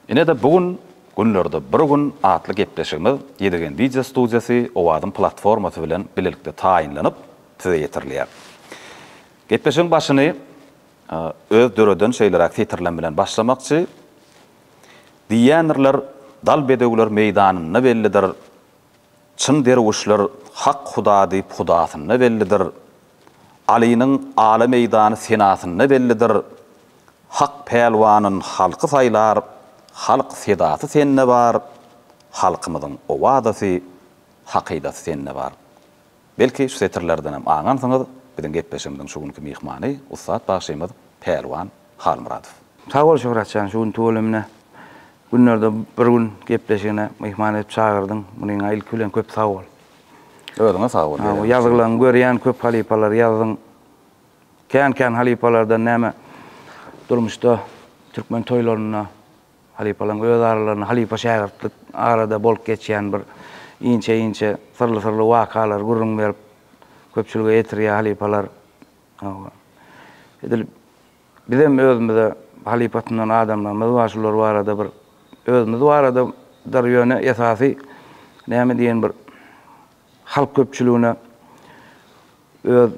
Ine-de bu gün Günlerde bir gün atly gepleşigimiz Ýedigen wideo studiýasy Owazyň platformasy bilen bilelikde taýynlanyp, size ýetirilýär. Gepleşigiň başyny öz döreden şeýleräk setirlem bilen başlamakçy, Diýýändirler, dal bedewler meýdanynda bellidir, Çyn derwüşler hak huda diýip hudasynda bellidir. Alynyň ala meýdany senasynda bellidir. Hak pälwanyn halky saýlar, halk sedasy sende bar, halkymyzyň owadasy, hakydasy sende bar. Belki, şu setirlerdenem aňansyňyz, biziň gepleşigimiziň şu günki myhmany, ussat bagşymyz Pälwan Halmyradow. Sag bol Şöhratjan şu gün tüweleme günlerde bir gün gepleşigine myhman edip çagyrdyň munyňa ilki bilen köp sag bol. Özüňe sag bol. Bu ýazgylaň görýän köp halypalar ýazdyň. Kän kän halypalardan näme durmuşda türkmen toýlarynda halypalaň öz aralarynda halypa şägirtlik arada bolup geçýän bir inçe inçe syrly syrly wakalar gürrüň berip köpçülige ýetirýä halypalar. Hawa. Edil bizem özümize halypa tunan adamlarymyz bar, şular barada bir özümiz baradadyr ýöne esasy näme diýen bir halk köpçüligine öz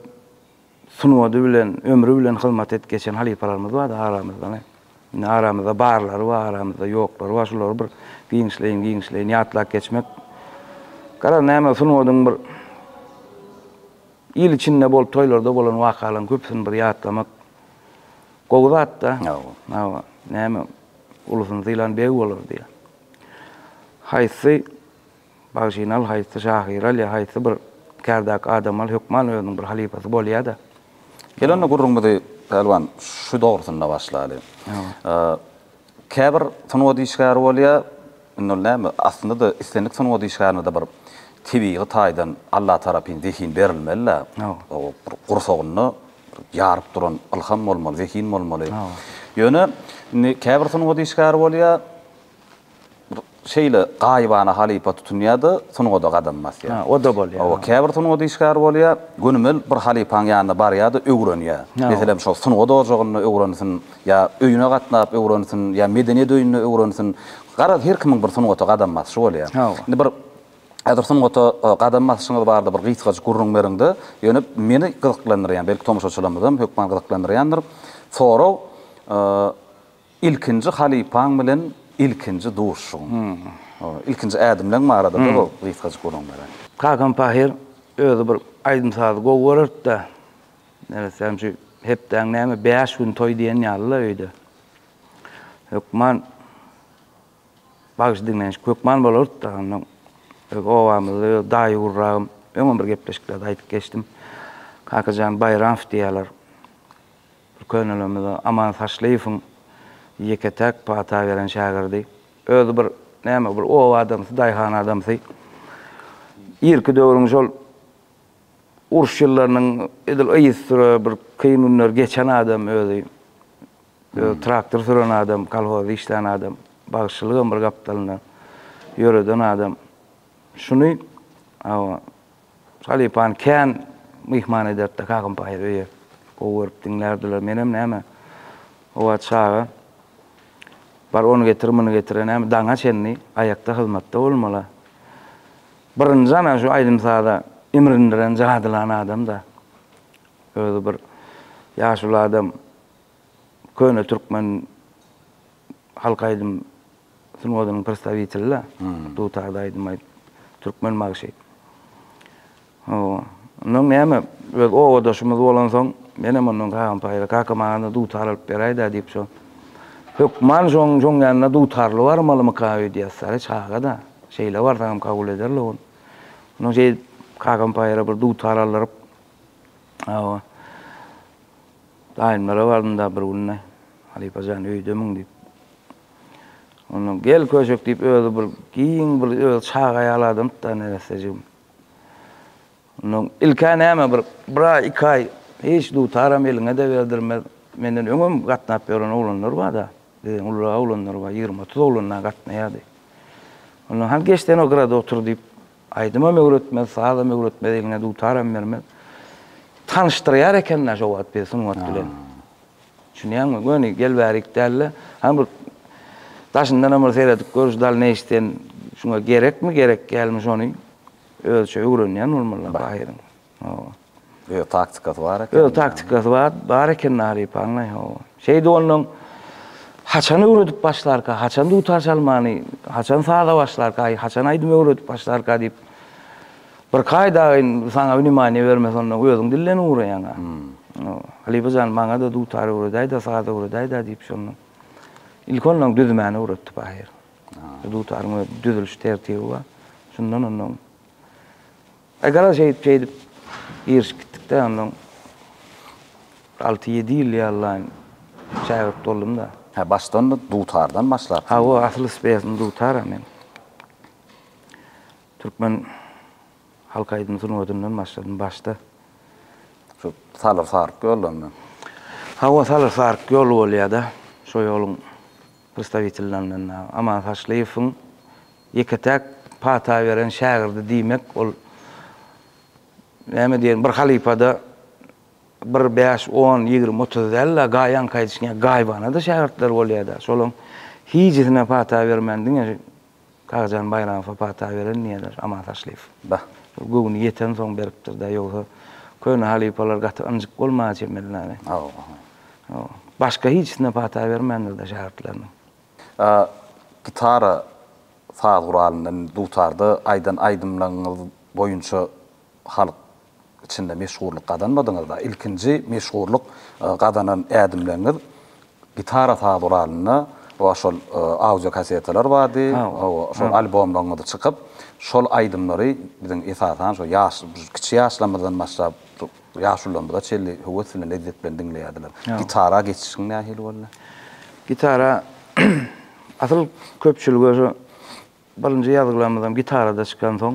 sungady bilen, ömri bilen hyzmat edip geçen halypalarymyz bar-da aramyzda. Indi aramyzda barlary bar, aramyzda ýoklary bar, şulary bir giňişleýin-giňişleýin ýatlap geçmek. Garaz, näme sungadyň bir Il içinde bolup toýlarda bolan wakalaryň köpüsini bir ýatlamak gowy zat-da. Hawa. Hawa. Näme, ulusyny sylan beg bolar diýýär. Haýsy bagşyny al, haýsy şahyry al ýa haýsy bir kärdaky adamy al, hökman özüniň bir halypasy bolýar-da. Gel onda gürrüňimizi, Pälwan, şu dogrusynda başlaly. Hawa. Käbir sungat işgäri bolýar, indi ol näme, aslynda-da islendik sungat işgärine-de bir tebigy taýdan Allatarapyn zehin berilmeli-de, o bir gursagyny ýaryp duran ylham bolmaly, zehin bolmaly. Ýöne indi käbir sungat işgäri bolýar, bir Şeýle gaýybana halypa tutunýar-da, sungada gadam basýar. Hä, o-da bolýar. Hawa, käbir sungat işgäri bolýar, gönümel bir halypaň ýanyna barýar-da, öwrenýär. Meselem, şol sungat ojagynda öwrensin, ýa öýüne gatnap öwrensin, ýa medeniýet öýünde öwrensin. Garaz, her kimiň bir sungata gadam basyşy bolýar. Hawa. Indi bir häzir sungata gadam basyşyňyz barada bir gysgajyk gürrüň beriň-de, ýöne meni gyzyklandyrýan, belki, tomaşaçylarymyzam hökman gyzyklandyrýandyr, sorag, Ilkinji halypaň bilen ilkinji duşuşygyň. Ilkinji ädimleň barada-da bu gysgajyk gürrüň beren. Kakam Pahyr özi bir aýdym-sazy gowy görerdi-de, neressäm şu hepdäň näme bäş güni toý diýen ýaly-la öýde. Hökman bagşy diňleýän şik hökman bolardy-da. Onda öz obamyzda öz daýy gurragym, öňem bir gepleşiklerde aýdyp geçdim. Kakajan Baýramow diýýärler. Könelerimiz Aman Saçlyýewiň ýeke-täk pata beren şägirdi. Özi bir näme, bir oba adamsy, daýhan adamsy. Irki döwrüň şol uruş ýyllarynyň edil yzysüre bir kyn günleri geçen adam özi. Özi traktor süren adam, kolhozda işlän adam. Bagşylygam bir gapdalynda ýöreden adam. Şuny, hawa, Halypany kän myhman ederdi-de Kakam Taýyr öýe. Gowy görüp diňlärdiler. Menem näme, howa çaga. Bar ony getir, muny getir-ä näme, daňa çenli aýakda hyzmatda bolmaly-a. Birinji ana şu aýdym-saza imrindiren, jadylan adam-da. Özi bir ýaşuly adam, köne türkmen. halk aýdym sungatynyň prostawiteli-de. Dutarda aýdym aýdyp, türkmen magşy. Hawa. Ondan näme, öz obadaşymyz bolansoň, menem ondan kagam paýla, Kaka, maňa-da dutar alyp beräý-dä diýip, şo hökman şoň, şoň ýanyna dutarly barmalymyka öýdýäs. Sary çaga-da, şeýle barsaňam kabul eder-le ol. Ondan şeýdip, kakam paýla bir dutar aldyryp, hawa. Daýymlara bardym-da bir günde, Halypa jan, öýdemiň diýip. Onda gel köşek diýip, özi bir giň bir özi çaga ýaly adamdy-da neressejigim. Ondan ilk-ä näme bir, bir aý, iki aý hiç dutaram eliňe-de berdirmez. Menden öňem gatnap ýören oglanlar bar-da, biziň ulyrak oglanlar bar, ýigrimi-otuz oglan-a gatnaýardy. Ondan hany geç sen o gyrada otur diýip, Aýdymam öwretmez, sazam öwretmez, egne dutaram bermez. Tanyşdyrýar eken-dä şo wagt bizi sungat bilen. Düşünýäňmi? Göni gel bärik däl-de, hany bir daşyndanam bir seredip görüş dalneýş sen şuňa gerekmi, gerek dälmi şony özçe öwrenýän bolmalylar ahyryň. Hawa. Öz taktikasy bar eken. Öz taktikasy bar, bar eken Naryp aňlaý hawa. Şeýdi ondan haçan öwredip başlarka, haçan dutar çalmany, haçan saza başlarka, haçan aýdym öwredip başlarka diýip. Bir kaýdaýyn saňa wnemaniýa bermez ondan özüň dilden ugraýaňa. Hmm. Halypa jan maňada dutar öwredäýdä, saz öwredäýdä diýip şondan. Ilk ondan düzmäni öwretdi pahyr. Dutaryň öz düzüliş tertibi bar. Şundan ondan E, gara şeýdip, şeýdip girişip gitdik-de, onnoň alty-ýedi ýyl ýallaýyn şägirt boldum-da. Hä, başdan-da dutardan başlapsyň? Hawa, asyl speýasym dutar-a men. Türkmen halk aýdym sungatyndan başladym başda. Şu salyr-saryk ýoldan-da? Hawa, salyr-saryk ýol bolýa-da. Şo ýoluň prstawitelilerindendir. Aman Saçlyýewiň Ýeke-täk pata beren şägirdi diýmek ol näme diýerin, bir halypa-da bir bäş, on, ýigrimi, otuz däl-de, gaýanka aýdyşyňa gaýybana-da şägirtleri bolýar-da. Şolaryň hijisine pata bermän diňe şu Kakajan Baýramowa pata beren diýýärler, Aman Taşlyýew. Bah, şol göwni ýetensoň beripdir-dä, ýogsa köne halypalar gaty ynjyk bolmaga çemeli näme? Hawa, hawa. Hawa. Başga hijisine pata bermändir-de şägirtleriniň. A Gitara saz guralynda, indi dutarda aýdan aýdymlaňyz boýunça halk içinde meşhurlyk gazanmadyňyz-da. Ilkinji meşhurlyk gazanan ädimleňiz gitara saz guralynda we şol audio kasetalar bardy, hawa, şol albomlaňyz çykyp, şol aýdymlary biziň esasan şo ýaş, kiçi ýaşlarymyzdan başlap, Ýaşulylarymyza çenli höwes bilen, lezzet bilen diňleýärdiler. Gitara geçişiň nähili boldy? Gitara, asyl köpçülige şu birinji ýazgylarymyzam gitarada çykansoň,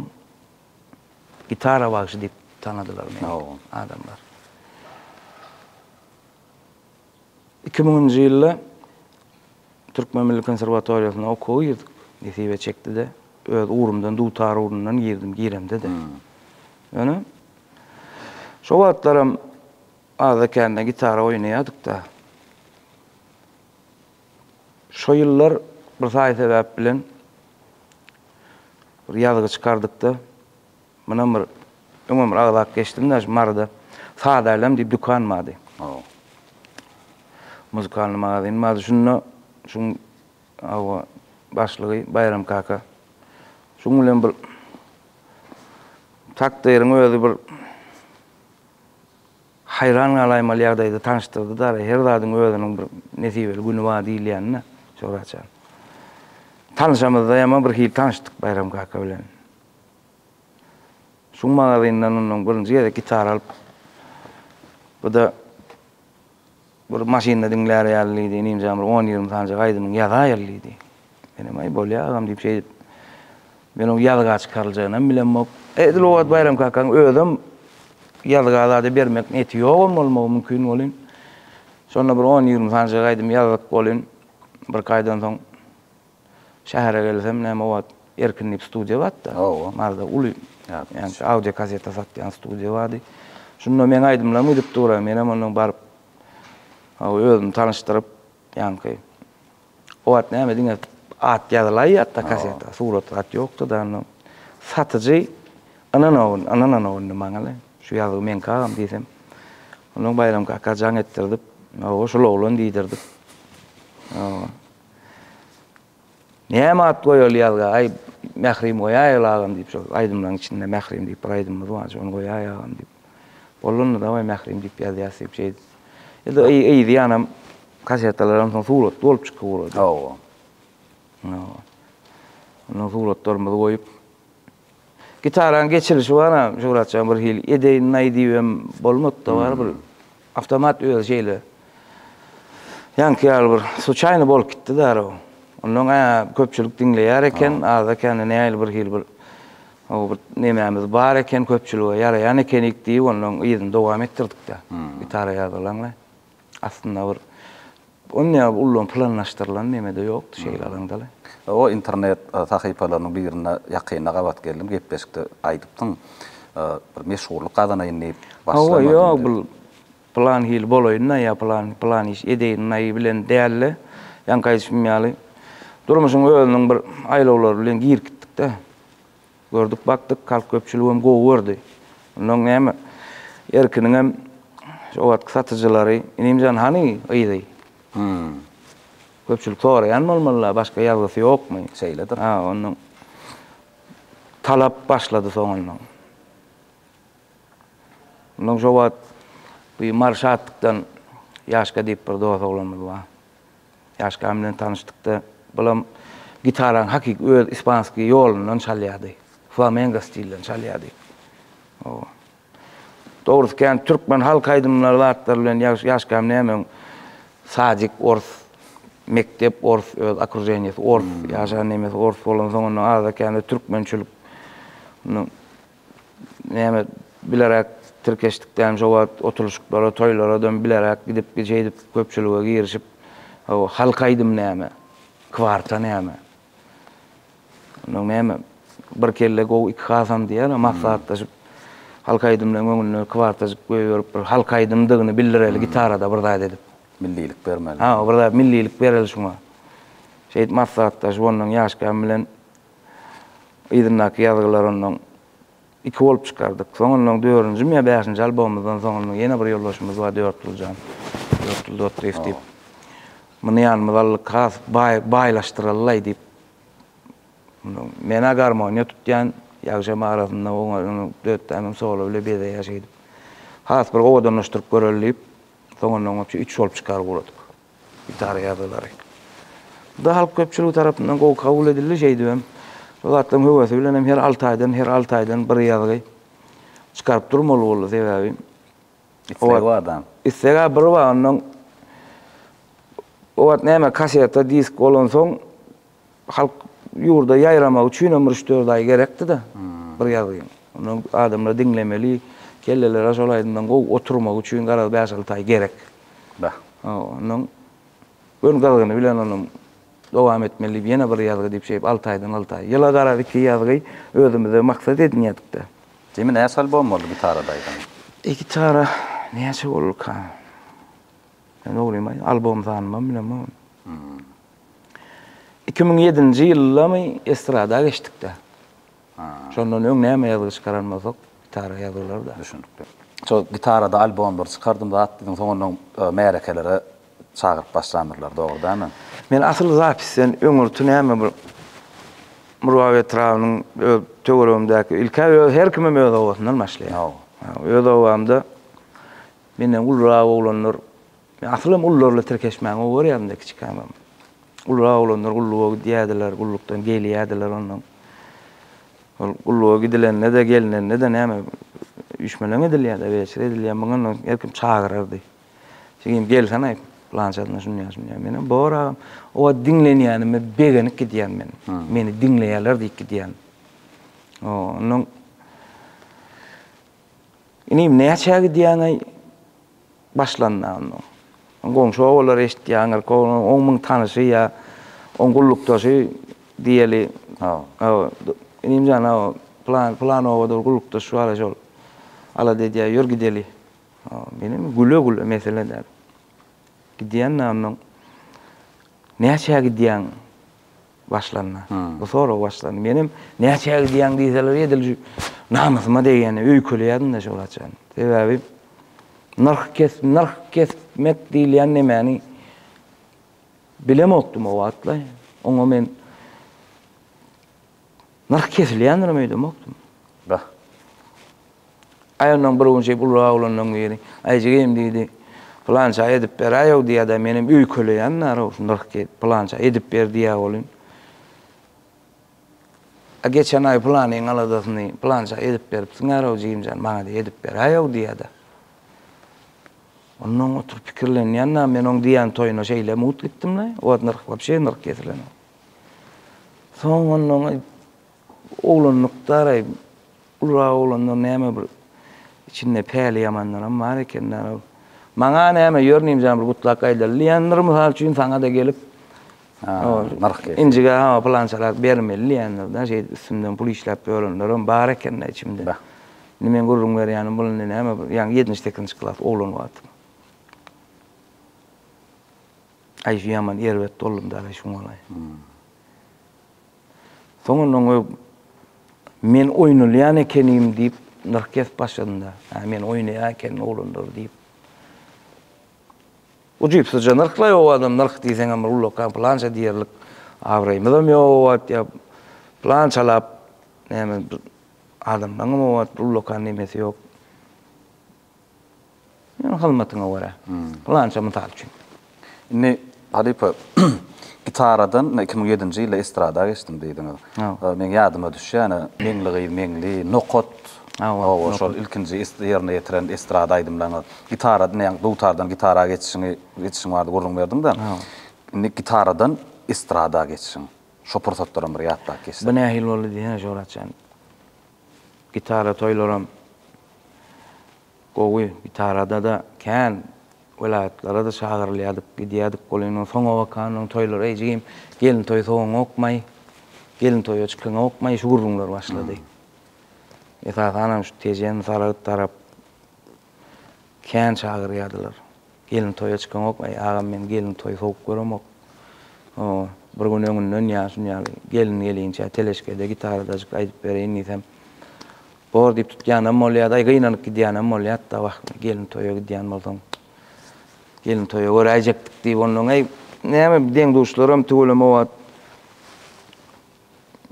Gitara bagşy diýip tanadylar meni adamlar. Iki müňünji ýylda Türkmen milli konserwatoriýasyna okuwa girdik. Nesibe çekdi-de, öz ugrumdan, dutar ugrundan girdim, giremde-de. Ýöne, şo wagtlaram azda-kände gitara oýnaýardyk-da. Şo ýyllar bir saýy sebäp bilen bir ýazgy çykardyk-da. Mundan bir öňem bir agzap geçdim-de şu Maryda Sadaýlam diýip dükan bardy. Hawa. Muzykalnyý magazyn bardy. Şunda şuň hawa başlygy Baýram kaka. Şuň bilen bir takdyryň özi bir haýran galaýmaly ýagdaýda tanyşdyrdy-da, her zadyň özüniň bir nesibeli güni bar diýilýänini Şöhratjan. Tanyşamyzda ýama birhili tanyşdyk Baýram kaka bilen. Şu magazyndan mundan birinji gezek gitara alyp, bu-da bir maşynda diňlär ýaly diýdi, inim-jan bir on-ýigrimi sanjak aýdymyňy ýazaýyl diýdi. Menem, Aý, bolýar agam diýip şeýdip, men oň ýazga çykaryljagyny hem bilemok. Edil o wagt Baýram kakaň özem ýazga zada bermek niýeti ýogam bolmagy mümkin welin, şonda bir on-ýigrimi sanjak aýdym ýazdyk welin, birkaýdan soň, Şähere gelsem näme wagt Erkin diýip studiýa bardy-da. Hawa. Maryda uly ýa-da audio kaseta satýan studiýa bardy. Şunda meň aýdymlarymy gidip duraý. Menem ondan baryp hawa özümi tanyşdyryp ýaňky o wagt näme diňe at ýazylaýýardy-da kaseta, surat zat ýokdy-da ondan. Satyjy ynanawyn, ynanaw indi maňa-le. Şu ýazgy meňki agam diýsem. Ondan Baýram kaka jaň etdirdip, hawa şul oglan diýdirdip. Hawa. Näme at goýaly ýazga, aý, Mährim goýaýaly agam diýip, şol aýdymlaryň içinde Mährim diýip bir aýdymymyz bar, şony goýaý agam diýip. Bolundy daway Mährim diýip ýazýas diýip şeýdip. Ýa-da ýa-da kasetalaram soň suratly bolup çykyp ugrady. Hawa. Ondan suratlarymyzy goýup, Gitarany geçirişi bar-a, Şöwrat jan bir hili edeýin-naý diýibem bolmady-da bar bir awtomat özi şeýle ýaňky ýaly bir suçaýny bolup gitdi darag. Onda oň-a köpçülik diňleýär eken, azda-kände nähili bir hili bir o bir nemämiz bar eken köpçülige ýaraýan ekenik diýip ondan yzyny dowam etdirdik-dä. Gitara ýazylaňlaý. Aslynda bir ony ullamak planlaşdyrylan neme-de ýokdy şeýle alaňda-le. O internet sahypalarynyň birinde ýakynda gabat geldim, gepleşikde aýdypdyň, bir meşhurlyk gazanaýyn diýip başlamadym diýip. Hawa, ýok, bu pylan hili bolaýyn-da ýa pylan, pylan iş edeýin-aý bilen däl-de, ýaňky aýdyşym ýaly, durmuşyň özüniň bir aýlawlary bilen girip gitdik-de. Gördük bakdyk halk köpçüligem gowy gördi. Ondan näme Erkiniňem şo wagtky satyjylary Inimjan hany gyzy? Köpçülik soraýan bolmalylar başga ýazgysy ýokmy? Şeýledir. Ha ondan talap başlady soňundan. Ondan şo wagt bu Mary Şatdykdan Ýaşka diýip bir dos oglanymyz bar. Ýaşkam bilen tanyşdykda, bulam gitarany hakyky öz ispanskiý ýolundan çalýardy. Flamengo stilden çalýardy. Oba. Dogrusy kän türkmen halk aýdymlary zatlar bilen ýaş ýaşkam nämeň sadik ors, mekdep ors, öz okrujeniýesi ors, ýaşan nemesi ors bolansoň onda azda-kände türkmençilik näme bileräk tirkeşdikdäm şo wagt oturyşyklara, toýlaradam bileräk gidip gije edip köpçülige girişip hawa halk aýdym näme, kwarta näme. Ondan näme bir kelle gowy iki hasam diýýärä maslahatlaşyp halk aýdymlaryň öňünde kwartajyk goýberip bir halk aýdymdygyny bildireli gitarada bir zat edip. Millilik bermeli. Hawa bir zat millilik bereli şuňa. Şeýdip maslahatlaşyp ondan ýaşkam bilen Yzyndaky ýazgylar ondan iki bolup çykardyk. Soň ondan dördünjimi ýa bäşinji albomymyzdan soň ondan ýene bir ýoldaşymyz bar Dörtgül jan, Dörtgül Dotdyýew diýip. Muny ýanymyza aldyk, has baý, baýlaşdyralylaý diýip. Men-ä garmoniýa tutýan, ýagşam arasynda oňa Dötdämem solo bile bezeýär şeýdip. Has bir owadanlaşdyryp göreli diýip, soň ondan üç bolup çykar guradyk. Gitara ýazgylary. Bu da halk köpçüligi tarapyndan gowy kabul edildi, şeýdibem bu zatlaryň höwesi bilen hem her alty aýdan, her alty aýdan bir ýazgy çykaryp durmaly boldy, sebäbi Isleg bar da. Isleg-ä bir bar, onnoň o wagt näme kaseta, disk bolansoň Halk ýurda ýaýramagy üçinem bir üç-dört aý gerekdi-de, bir ýazgyn. Ondan adamlar diňlemeli, kelleleri şol aýdymdan gowy oturmagy üçin garaz bäş-alty aý gerek. Bah. Ondan Gün gyzgyny bilen ony dowam etmeli diýip ýene bir ýazgy diýip şeýdip alty aýdan alty aý. Ýyla garaz iki ýazgy özümize maksat edinýädik-de. Jemi näçe albom boldy gitarada aýdan? E gitara näçe bolduka? Men oglyma albom zanymam bilen boldy. Iki müň ýedinji ýyldamy estrada geçdik-de. Şondan öň näme ýazgy çykaran bolsak, gitara ýazgylar-da. Düşünikli. Şol gitarada albomlary çykardym zat diýdiň, soň onnoň märekelere çagyryp başlandyrlar, dogry dämi? Men asyl zapisden öňürti näme bir Murgap etrabynyň öz töweregimdäki, ilk-ä öz, her kimem öz obasyndan başlaýar. Öz obamda Menden ulurak oglanlar, men asylym ulularla tirkeşmäni gowy görýärdim-de kiçikämem. Ulurak oglanlar gulluga gidýärdiler, gullukdan gelýärdiler onnoň. Ol gulluga gidilende-de, gelnende-de näme, üýşmeleň edilýär-de, weçe edilýär. Muňa onnoň her kim çagyrardy. Jigim, gelsene, aý, pylançasyna şunýa-şunýa. Menem, bor agam. O wagt diňlenýänime begenip gidýän men. Meni diňleýärler diýip gidýän. Onnoň Inim näçä gidýäňeý başlanda onnoň. Goňşy obalar eşitýäňir ko oň müň tanyşy ýa oň gullukdaşy diýeli. Hawa. Inim jan hawa plan plan obada bir gullukdaş bar şol alada edýär ýör gideli. Hawa menem güle güle mesele däl. Gidýän da onnoň. Näçä gidýäň Başlanda. Bu sorag başlanda. Menem näçä gidýäň diýseler edil şu namysyma degýän öýkeleýärdim-de şol haçan. Sebäbi nyrh kes nyrh kesmek diýilýän nemäni bilemokdym o wagtlar. Oňa men nyrh kesilýändirem öýdemokdym. Bah. Aýagyndan bir gün şeýdip ululak oglanlaryň biri, Aý jigeýim diýdi, pylança edip beräýow diýýä-dä, menem öýkeleýän-dä-row, nyrh diýip, pylança edip ber diýýä welin, A geçen aý pylanyň aladasyny pylança edip beripsiň-ä-row jigim jan, maňa-da edip beräýow diýýä-dä. Onnoň oturyp pikirlenýän-dä, men oň diýýän toýuna şeýle mugt gitdim-le, o wagt nyrh wapşe nyrh kesilenok. Soň onnoň Oglanlykdar-aý, ulurak oglanlar näme bir içinde päli ýamanlaram bar ekendärow. Maňa näme, ýörnim jan bir gutlak gaýdaly. Leandr mysal üçin saňa-da gelip, nyrh kesip. Injige hawa pylançarak bermeli diýendir-dä, şeýdip üstümden pul işläp ýörenlerem bar eken-dä içimde. Indi meň gürrüň berýänim bul indi näme bir ýaňy ýetnji-sekizinji klas oglan wagtym. Aý şu ýaman erbet boldum-da-laý şuňalaý. Soňundan goý Men oýnalýan ekenim diýip nyrkes başynda. Hä, men oýnaýan ekenim oglanlar diýip. Ujypsyzja nyrklaý o adam nyrk diýseňem bir ullakan plança diýerlik abraýymyzam ýok o wagt ýa plançalap näme adamlaňam o wagt ullakan nemesi ýok. Meniň hyzmatyňa görä. Pylança mysal üçin. Indi halypa gitaradan iki müň ýedinji ýylda estrada geçdim diýdiňiz. Meň ýadyma düşýän Meňli gyz Meňli, Nokat, hawa şol ilkinji ýerine ýetiren estrada aýdymlaryňyz. Gitaradan ýa dutardan gitara geçişiňi geçişiň bardy gürrüň berdiňda. Indi gitaradan estrada geçişiň. Şo pursatlaram bir ýatlap geçsek. Bu nähili boldy diýsene Joratjan. Gitara toýlaram gowy. Gitarada-da kän welaýatlara-da çagyrylýardyk, gidýärdik. Ol indi soňa bakan, onuň toýlary eý jigim, gelin toýy sowaňokmaý, gelin toýa çykaňokmaý, şu gürrüňler başlady. Esasanam şu Tejen, Saragt tarap. Kän çagyrýardylar. Gelin toýa çykaňok, Äý, agam, men gelin toýy sowuk göremok. O, bir gün öňünden ýa şun ýaly, Gelin gelinçä teleşkede, gitaradajyk aýdyp bereýin diýsem, Bor diýip tutýanam bolýa-daý, gynanyp gidýänem bolýat-da, wah, gelin toýa gidýän bolsaň, gelin toýa göräýjekdik diýip, onnoň, äý, näme, deň-duşlaram tüweleme wagt.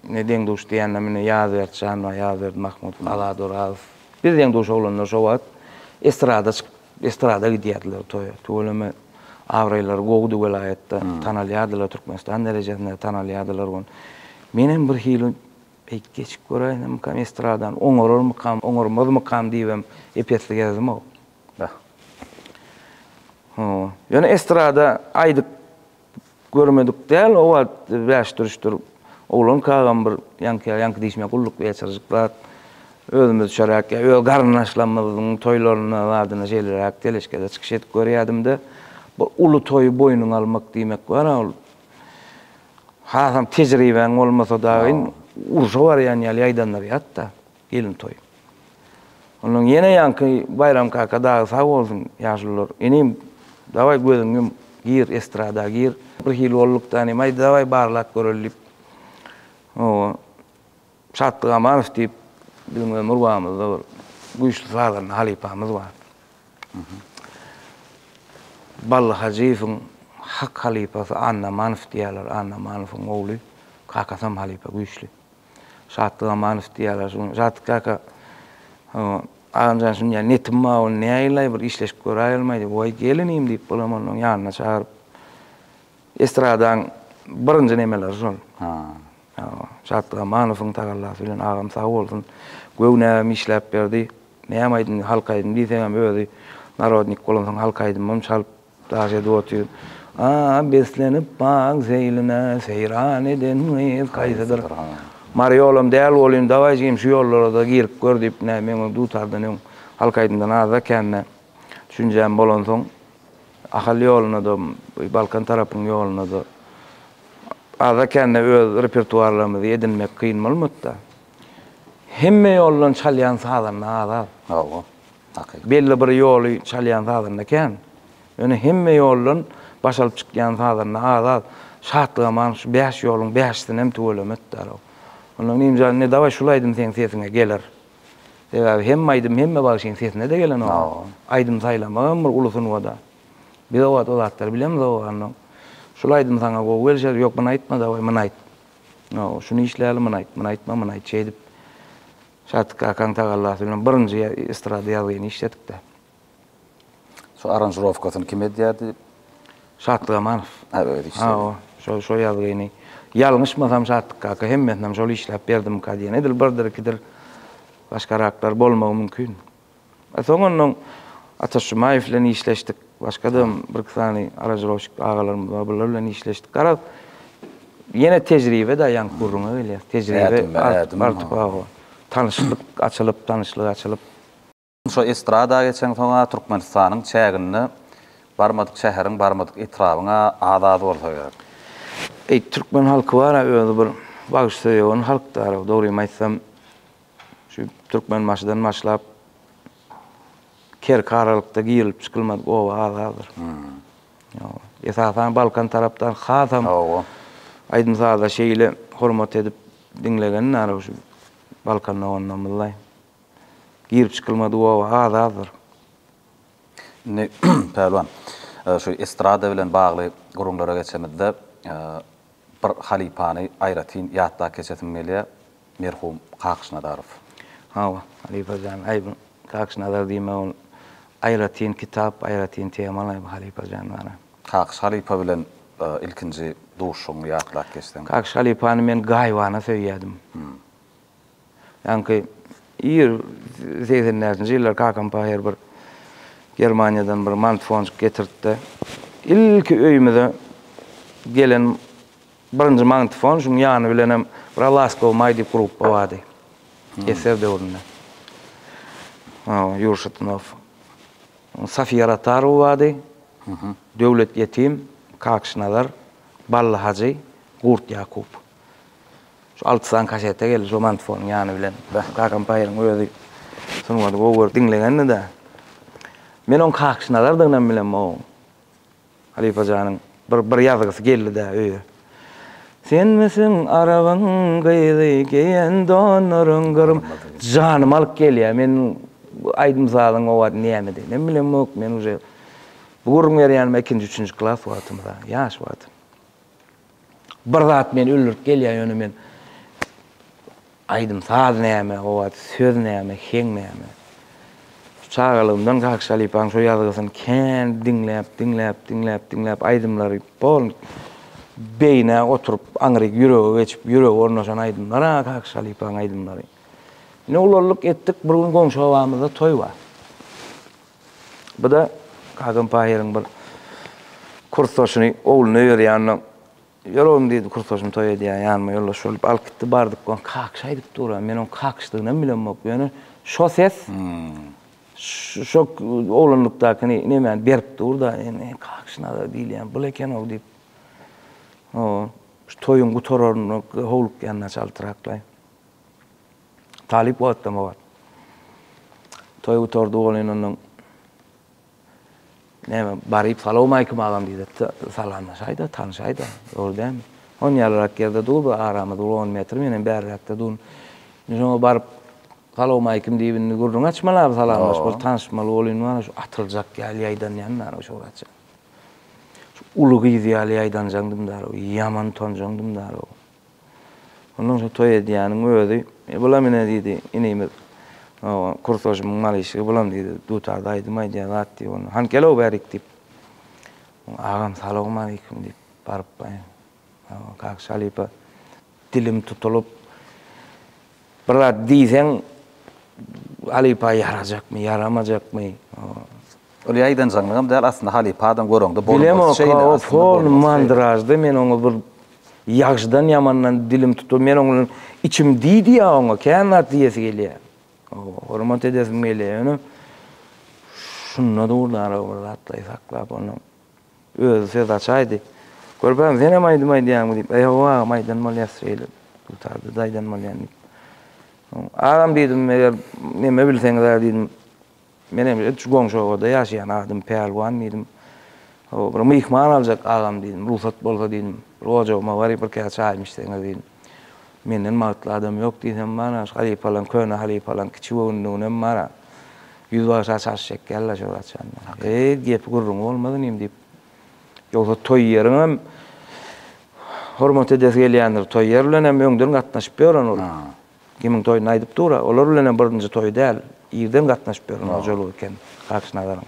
Ne deň duş diýende mine Ýazberdi Şanbag, Ýazberdi Mahmut, Azat Orazow. Biz deň duş oglanlar şo wagt estrada çykyp, estrada gidýärdiler toýa. Tüweleme abraýlary gowudy welaýatda, tanalýardylar, Türkmenistan derejesinde tanalýardylar ony. Menem bir hili beýt geçip göräýsemikam estradany, oňararmykam, oňarmazmykam diýibem ep-esli gezdimok. Ýöne estrada aýdyp. Görmedik däl o wagt bäşdürüşdir. Oglan kagam bir ýaňky, ýaňky diýşime gulluk ýetirjik zat. Özümizçeräk ýa öz garyndaşlarymyzyň toýlarynda zadyna şeýleräk teleşkede çykyş edip görýädim-de. Bir uly toýy boýnuňa almak diýmek bar-a ol. Hasam tejribäň bolmasa dagy urşa barýan ýaly ýaýdandyr ýat-da. Gelin toýy. Ondan ýene ýaňky Baýram kaka dagy sag bolsun, ýaşulular, Inim, dawaý gözüňi ýum, gir, estrada gir. Bir hili bolduk-da inim, Aý, dawaý barlap göreli diýip, hawa, Şatlyk Amanow diýip, biziň ömür wagymyzda bir güýçli sazanda halypamyz bar. Bally Hajyýewiň hak halypasy Annamanow diýýärler, Annamanowyň ogly, kakasam halypa güýçli. Şatlyk Amanow diýýärler şu gün. Şatlyk kaka, agamjan şuny diýýär, netim bar, ony näýlaý, bir işleşip göräýelmäý diýip, Waý, gel inim diýip, Gulamonowyň ýanyna çagyryp, estradaň birinji nemeleri şol. Şatlyk Amanowyň tagallasy bilen agam sag bolsun, göwnäm işläp berdi. Näme aýdym, halk aýdymy diýseňem özi narodnik bolansoň halk aýdymym çalyp Daşyp otyr. A-a beslenip bagyň seýline, Seýran eden gyz kaýsydyr? Mary ýolam däl bolyn, dawaý jigim şu ýollara-da girip gör diýip, nä, meň öň dutardan öň halk aýdymdan azda kände düşünjäm bolansoň, Ahal ýoluna-da, Balkan tarapyň ýoluna-da azda kände öz repertuarlarymyzy edinmek kyn bolmady-da. Hemme ýoldan çalýan sazanda az-az. Hawa. Takyk. Belli bir ýoly çalýan sazanda kän. Ýöne hemme ýoldan baş alyp çykýan sazanda az-az. Şatlygaman şu bäş ýoluň bäşisinem tüweleme etdäl-ow. Onda Nimjan indi dawaý şul aýdym seň sesiňe geler. Sebäbi hemme aýdym hemme bagşyň sesine-de gelenok. Aýdym saýlamak hem bir uly sungat-a. Biz o wagt o zatlary bilemizok-ow onda. Şul aýdym saňa gowy gelişer, ýok muny aýtma dawaý muny aýt. Hawa, şuny işläli muny aýt, muny aýtma muny aýt şeýdip. Şadyk kakaň tagallasy bilen birinji estrada ýazgyny işledik-de. Şo aranžirowkasyny kim edýärdi? Şatlyk Amanow. Ha, özi işledi. Hawa, şo, şo ýazgyny. Ýalňyşmasam Şadyk kaka hemmesinem şol işläp berdimika diýen. Edil birdir-ikidir başgaraklar bolmagy mümkin. Soň onnoň Ataş Jumaýew bilen işleşdik. Başga-da hem bir-iki sany aranžirovşik agalarymyz bar, bular bilen işleşdik. Garaz, ýene tejribe-de ýaňky gürrüňe gelýär. Tejribe artyp, hawa. Tanyşlyk açylyp, tanyşlyk açylyp. Şo estrada geçeňsoň-a Türkmenistanyň çäginde barmadyk şäheriň, barmadyk etrabyň-a az-az bolsa gerek. Eý, türkmen halky bar-a özi bir bagşysöýewan halkdar-a, dogrymy aýtsam, Şu Türkmenbaşydan başlap Kerki aralykda girilip çykylmadyk oba az-azdyr. Esasan Balkan tarapdan hasam aýdym-saza şeýle hormat edip diňlegen nara şu Balkan doganlarymyzlaý. Girip çykylmadyk oba az-azdyr. Indi, Pälwan, şu estrada bilen bagly gürrüňlere geçemizde, Bir halypany aýratyn ýatda keçesim gelýär, merhum Kakyş Nazarow. Hawa, halypa jan, aýdyň, Kakyş Nazar diýme, ol aýratyn kitap, aýratyn tema laýyk halypa jan bana. Kakyş halypa bilen ilkinji duşuşygyňy ýatlap geçseň? Kakyş halypany men gaýybana söýýädim. Ýaňky ir segsen bäşinji ýyllar kakam paýhar bir Germaniýadan bir mantfonjik getirtdi. Ilki öýümize gelen birinji mantfon, şuň ýany bilenem bir Laskow maý diýip gruppa bardy. Eser döwründe. Ýurşytnow. Safiýa Ratarowa bardy. Döwlet Ýetim, Kakşy Nazar, Bally Hajy, Gurt Ýakup. Şu alty sany kasete geldi şu mantfonyň ýany bilen. Kakam paýyň özi sungaty gowy görüp diňlegendi-de. Men oň kakyş nazardygynam bilemok oň. Halypa janyň bir bir ýazgysy geldi-de öýe. Senmisiň arabyň gyzy geýen donlaryň gyrym. Janymy alyp gelýär. Men bu aýdym sazyň o wagt nämediginem bilemok. Men uje bu gürrüň berýänim ikinji, üçünji klas wagtymda, ýaş wagtym. Bir zat meni öldürip gelýär, ýöne men aýdym-saz näme, o wagt söz näme, heň näme. Çagalygymdan Kak Şalypanyň şo ýazgysyny kän diňläp, diňläp, diňläp, diňläp, aýdymlary bol beýnä oturyp, aňryk ýürege geçip, ýürege ornaşan aýdymlar-a Kak Şalypanyň aýdymlary. Ine, ulaldyk, etdik, bir gün goňşy obamyzda toý bar. Bu-da Hakan Pahyryň bir kursdaşyny ogluna berýände, Ýör oglum diýdi, kursdaşym toý edýär, ýanyma ýoldaş bolup alyp gitdi. Bardyk, ol kakyş aýdyp dur, a men onuň kakyşdygynam bilemok. Ýöne şo ses şo oglanlykdakyny nemäni berip dur-da, indi kakyş nazar diýilýän bul eken-ow diýip, şu toýuň gutararyna howlukýan naçaltraklaý. Talyp wagtdama bar. Toý gutardy bolyn ondan. Näme, baryp salawmaýkim agam diýip salamlaşaýda, tanyşaýda. Dogry dälmi? On ýalrak ýerde dur, bir aramyz bir on metr, men hem bäriräkde durun. Indi şoňa baryp salawmaýkim diýip indi gürrüň açmaly abi, salamlaşmaly, tanyşmaly bolyn wara şu atyljak ýaly ýaýdanýan dara şu wagtja. Şu uly gyz ýaly ýaýdanjaňdym dara, ýaman utanjaňdym dara. Ondan soň toý edýäniň özi, E, bulam ine, diýdi, inimiz, kursaşymyň mal işigi, bulam, diýdi, dutarda aýdym aýdýar zat, diýip, onda, hany, gel-ow bärik, diýip. Agam, salowmaleýkim, diýip, baryplaýyn. Kaka halypa dilim tutulyp, Bir zat diýseň, halypa ýarajakmy, ýaramajakmy? Ol ýaýdanjaňlygam däl, aslynda halypa adam göreňde bolup bolsa şeýle. Bilemok, o pol mandraždy, men oňa bir ýagşydan-ýamandan dilim tutup, men oň bilen içim diýdiýä oňa, kän zat diýesi gelýä. Hormat edesim gelýä, ýöne şunda dur dara bir zatlaýy saklap onuň. Özi söz açaýdy. Görpem, senem aýdym aýdýaňmy? diýip, Ýok, agam, aýdan bolýas şeýle, dutarda-da aýdan bolýan diýip. Soň, Agam, diýdim, eger neme bilseňiz-ä, diýdim, men hem şu goňşy obada ýaşaýan, adym Pälwan, diýdim. Hawa, bir myhman aljak, agam, diýdim, rugsat bolsa, diýdim, bir ojagyma baryp, birkä çaýym içseňiz, diýdim. Menden bagtly adam ýok diýsem bar-a, şu halypalaň, köne halypalaň kiçi göwünliginem bar-a. Ýüzbagşa çaş çekýärler şol haçan. Eý, gepi-gürrüňi bolmaz inim diýip. Ýogsa toý ýeriňem hormat edesi gelýändir. Toý ýer bilenem öňden gatnaşyp ýören ol. Kimiň toýuny aýdyp dur-a. Olar bilenem birinji toýy däl. Irden gatnaşyp ýören hojalyk eken Kakşynazaryň.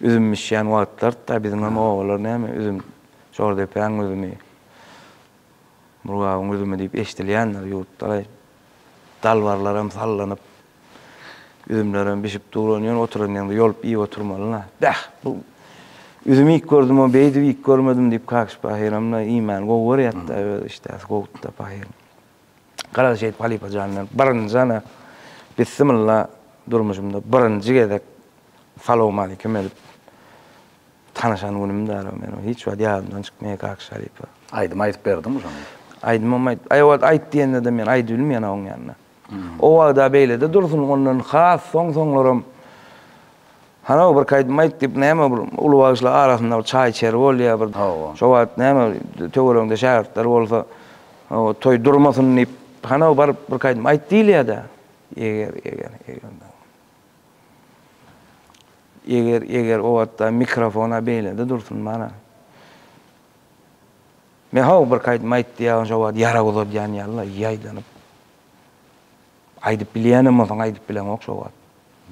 Üzüm bişýän wagtlardy-da, biziňem obalar näme, üzüm, Jordepäň üzümi, Murgabyň üzümi diýip eşidilýändir ýurtda-laý. Dalbarlaram sallanyp, üzümlerem bişip dur, ony ýöne oturan ýeriňde ýolup iýip oturmaly-la. Bäh, bu üzüm iýip gördüm-ow, beýdip iýip görmedim diýip, Kakyş pahyram-da iýmäni gowy görýärdi-de, öz işdäsi gowudy-da pahyryň. Garaşy edip halypa jan men birinji ana bissimilla durmuşymda birinji gezek salowmalikim edip tanyşan günüm dal o meniň hiç wagt ýadymdan çykmaýar kak şalypa. Aýdym aýdyp berdiňmi şoň? Aýdymam aýdyp aý wagt aýt diýendede men aýdy bilmeýän a oň ýanynda. O wagta beýlede dursun ondan has soň soňlaram Hany-ow, bir kaýdym aýt, diýip, näme bir uly bagşylar arasynda bir çaý içer bolýar, bir Hawa. şo wagt näme töweregiňde şägirtler bolsa, hawa, toý durmasyn diýip, hany-ow, baryp bir kaýdym aýt diýilýär-dä. Eger, eger, eger, daň. Eger, eger, o wagtda mikrofon-a beýlede dursun, mana. Men, hawa, bir kaýdym aýt diýýärin, şo wagt ýarag uzadýan ýaly-la, ýaýdanyp. Aýdyp bilýänem bolsaň, aýdyp bileňok şo wagt.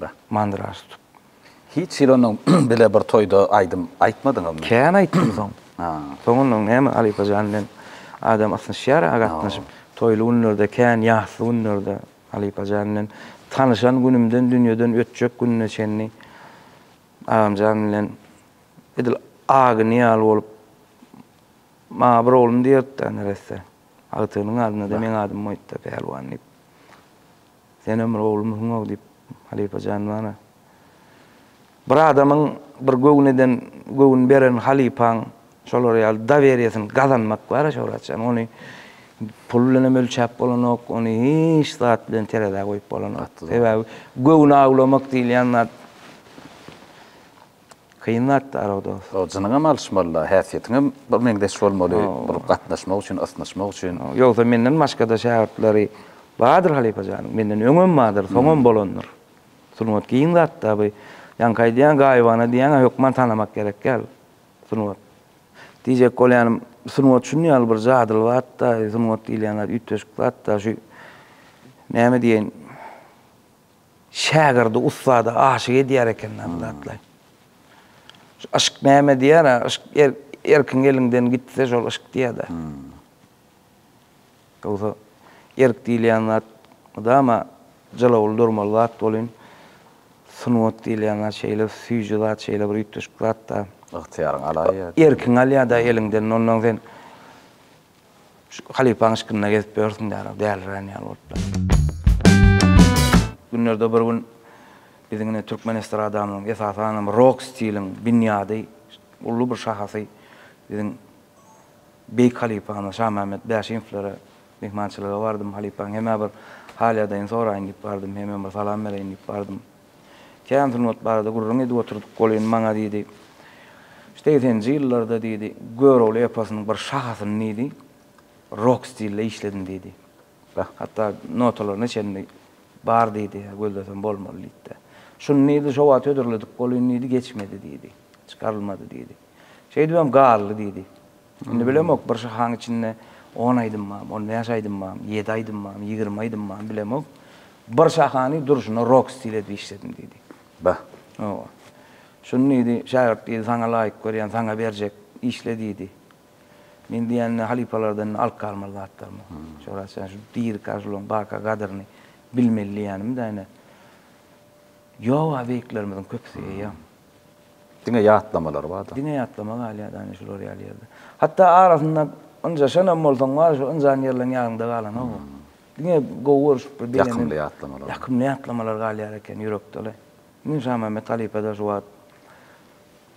Be. Mandyra tutup. Hiç hili onuň bile bir toýda aýdym aýtmadyňyzmy? Kän aýtdym soň. Ha. Soň onuň näme halypa jan bilen adam ysnyşýar-a gatnaşyp. Toýly günlerde kän, ýasly günlerde halypa jan bilen tanyşan günümden dünýeden ötjek gününe çenli agamjan bilen edil agyny ýaly bolup maňa bir oglum diýerdi-de neresse. Agtygynyň adyna-da meň adym goýdy-da Pälwan diýip. Senem bir oglumsyň-ow, diýip, halypa jan bana. Bir adamyň bir göwün eden, göwün beren halypaň şolar ýaly doweriýesini gazanmak bar-a, Şöwrat jan. Ony pul bilenem ölçäp bolanok, ony hiç zat bilen terezä goýup bolanok. Sebäbi göwün awlamak diýilýän zat Kyn zatdy araw dos. Jynyňam alyşmalyda häsiýetiňem bir meňzeş bolmaly bul gatnaşmak üçin ysnyşmak üçin. Ýogsa menden başgada şägirtleri bardyr halypa janyň menden öňem bardyr soňam bolandyr. Sungat giň zatda bu ýaňky aýdýan gaýybana diýýäňä hökman tanamak gerek ýaly sungat. Diýjek bolýanym sungat şuny ýaly bir jadyly zatda sungat diýilýän zat üýtgeşik zatda şu näme diýeýin Şägirdi ussada aşyk edýär eken adatlaýyn. Şu yşk näme diýär-ä, yşk erkiň eliňden gitse şol yşk diýýä-dä. Ýogsa erk diýilýän zat mydama jylawly durmaly zat welin, sungat diýilýän zat şeýle süýji zat, şeýle bir üýtgeşik zat-da. Ygtyýaryňy alaýýa. Erkiňi alýa-da eliňden, ondan sen Şu halypaň yşkynda gezip ýörsüň dälib, dälirän ýaly boluplar. Günlerde bir gün biziň ine türkmen estradamyzyň, esasanam rok stiliň binýady, uly bir şahasy biziň beýik halypamyz Şamämmet Bäşimowlara myhmançylyga bardym. Halypaň hemä bir hal-ýagdaýyny soraýyn diýip bardym, hemem bir salam bereýin diýip bardym. Kän sungat barada gürrüň edip oturdyk. Ol indi maňa diýdi, Segseninji ýyllarda diýdi, Görogly eposynyň bir şahasyny diýdi, rok stilde işledim diýdi. Hatda notalaryna çenli bar diýdi, gözlesem bolmaly diýdi-de. Şuny diýdi, şo wagt hödürledik, ol indi diýdi, geçmedi diýdi, çykarylmady diýdi. Şeýdibem galdy, diýdi. Indi bilemok, bir şahaň içinde on aýdym bam, on bäş aýdym bam, ýedi aýdym bam, ýigrimi aýdym bam, bilemok. Bir şahany durşuna rok stil edip işledim, diýdi. Bah! Hawa. Şuny, diýdi, şägirt, diýdi, saňa laýyk görýän, saňa berjek, işle, diýdi. Men diýende halypalardan indi alyp galmaly zatlarym ýok. Şo rast ýa şu diri kažulygyň baka gadyryny bilmeli diýýänim-dä ine. Ýok-a, beýiklerimiziň köpüsi eýýäm. Diňe ýatlamalar bar-da. Diňe ýatlama galýar da indi şular ýaly ýerde. Hatda arasynda ynjaşanam bolsaň bar, şu ynjan ýerleň ýadyňda galanok ol. Diňe gowy görşüp bir beýlenen. Ýakymly ýatlamalar. Ýakymly ýatlamalar galýar eken ýürekde-le. Indi Şamämmet halypa-da şu wagt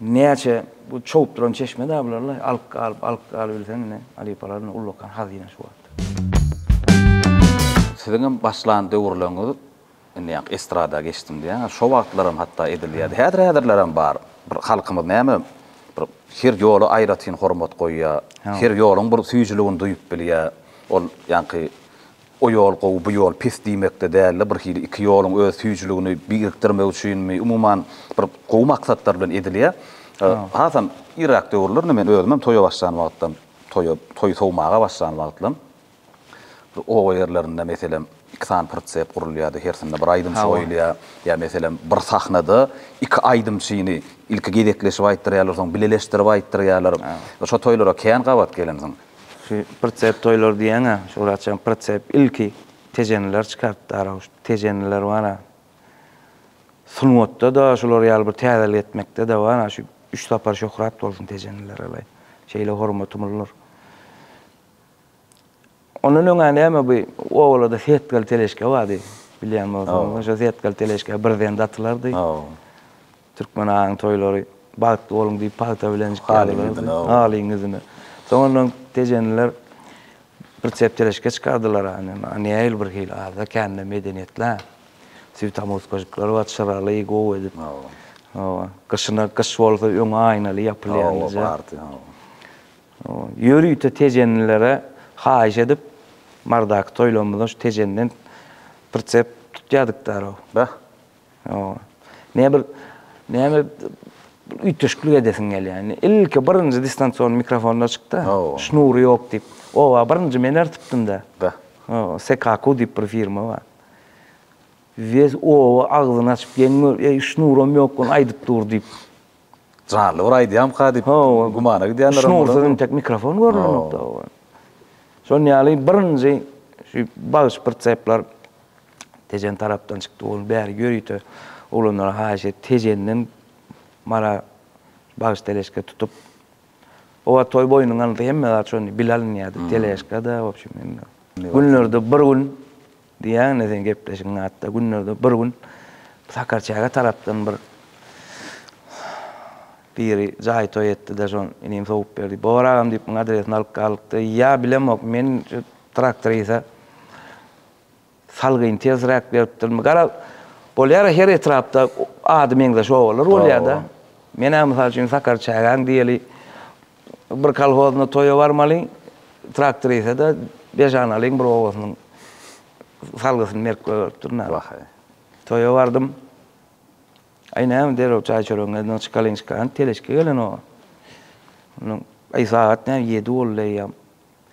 näçe bu çowup duran çeşme-dä bular-la. Alyp galyp, alyp galyp bilseň indi halypalar indi ullakan hazyna şu wagt. Siziňem başlan döwürleriňiz Indi ýaňky estrada geçdim diýýäňiz. Şo wagtlaram hatda edilýärdi. Häzir-häzirlerem bar. Bir halkymyz näme, bir her ýola aýratyn hormat goýýar. Her ýoluň bir süýjüligini duýup bilýär. Ol ýaňky o ýol gowy, bu ýol pis diýmekde däl-de, birhili iki ýoluň öz süýjüligini birikdirmek üçinmi, umuman, bir gowy maksatlar bilen edilýär. Hasam irräk döwürlerinde men özümem toýa başlan wagtlam, toýa, toý sowmaga başlan wagtlam, Oba ýerlerinde, meselem, iki sany pritsep gurulýardy, hersinde bir aýdymçy goýulýar. Ýa, meselem, bir sahnada iki aýdymçyny ilki gezekleşip aýtdyrýarlar, soň bileleşdirip aýtdyrýarlar. Şo toýlara kän gabat gelensiň. Şu pritsep toýlary diýýäň-ä, şu wagtçam pritsep ilki tejeniler çykarypdy ara. Şu tejeniler bar-a, sungatda-da şular ýaly bir täzelik etmekde-de bar-a, şu üç sapar şöhrat bolsun tejeniler alaý. Şeýle hormatymyz bar. Ondan öňä näme bu obalada setgal teleşke bardy. Bilýän bolsaňyz, şo setgal teleşke birden datylardy. Türkmen aýyň toýlary bagtly boluň diýip pagta bilen çykardylar. Halyň ýüzüne. Soň ondan tejeniler bir çep teleşke çykardylar. Nähili bir hili ada kände medeniýetli. Süýt amuzkajyklar bar, çyraly, gowy edip. Gyşyna gyş bolsa öňi aýnaly ýapylýan. Ýörite tejenilere haýyş edip, Mardaky toýlarymyzda şu tejenden pritsep tutýardyk däl-ow. Beh. Ine bir näme üýtgeşiklik edesiň gelýär. Ilki birinji distansion mikrofonlar çykdy. Şnury ýok diýip. Oba birinji men ertipdim-dä. Beh. Sekaku diýip bir firma bar. Wes oba agzyny açyp geň gör, eý şnuram ýok gun aýdyp dur diýip. Janly bir aýdýamyka diýip gümana gidýänlerem bolar. Şunuň ursady entek mikrofon görnenokda oba. Şon ýaly birinji şu bagyş pritsepler Tejen tarapdan çykdy ol bäri ýörite oglanlara haýyş et Tejenden Mara bagyş teleşka tutup oba toý boýnuň alynsa hemme zat şondy bile alynýardy teleşka-da wobşem hemme günlerde bir gün Diýýäň-le seň gepleşigiň atda günlerde bir gün Sakarçäge tarapdan bir biri jaý toý etdi-de şon inim sowup berdi. Bobar agam diýip muň adresini alyp galdyk-da, ýa bilemok men şu traktorisa salgyny tersräk beripdirmi. Gara, bolýar-a her etrapda ady meňzeş obalar bolýar-da. Men-ä mysal üçin Sakarçägäň diýeli Bir kolhozyna toýa barmalyň, traktorisede beş analyň bir obasynyň salgysyny merkbe beripdir. Wahaý. Toýa bardym. Aý näme derrew çaý-çöregiňizden çykalyň çykaýan, teleşki gelen oňa. Aý sagat näme ýedi boldy eýýäm.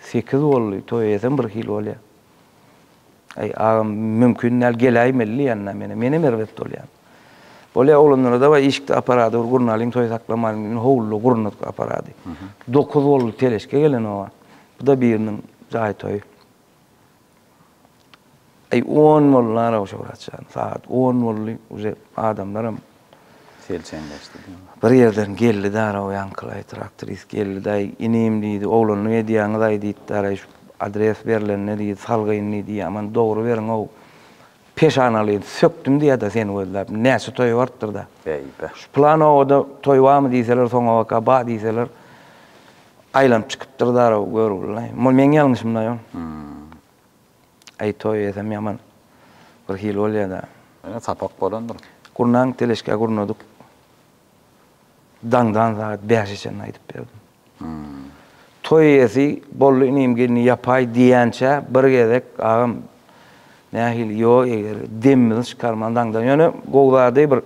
Sekiz boldy toý eýesem bir hili bolýa. Aý agam mümkin däl geläýmeli diýýända meni menem erbet bolýan. Bolýa oglanlara dawaý işikde aparady bir gurnalyň toý saklamalyň diýdim howluda gurnadyk aparady. Dokuz boldy teleşke gelen oba. Bu da biriniň jaý toýy. Eý on boldy nalawşa Şöwrat jan, sagat on boldy, uje adamlaram selçeňleşdi. Bir ýerden geldi daraw ýaňkylaý traktorist geldi daý inim diýdi oglanlyk edýäňizaý diýip daraý şu adres berlende diýdi salgyn diýdi ýaman dogry beriňow peşanalyn sökdüm diýäda seni gözläp näçe toýa barypdyrda şu plan obada toý barmy diýseler soňabaka bar diýseler Aýlanyp çykypdyr zaraw görgülilaý. Mol meň ýalňyşymlaý ol. Aý toý edesem ýaman bir hili bolýada. Ýene sapak bolandyr. Gurnaň teleşkä gurnadyk. Daňdan sagat bäşe çenli aýdyp berdim. Toý edesi boldy inim gelni ýapaý diýýänçä bir gezek agam Nähili ýo eger demimizi çykarman daňdan ýöne gowy zady bir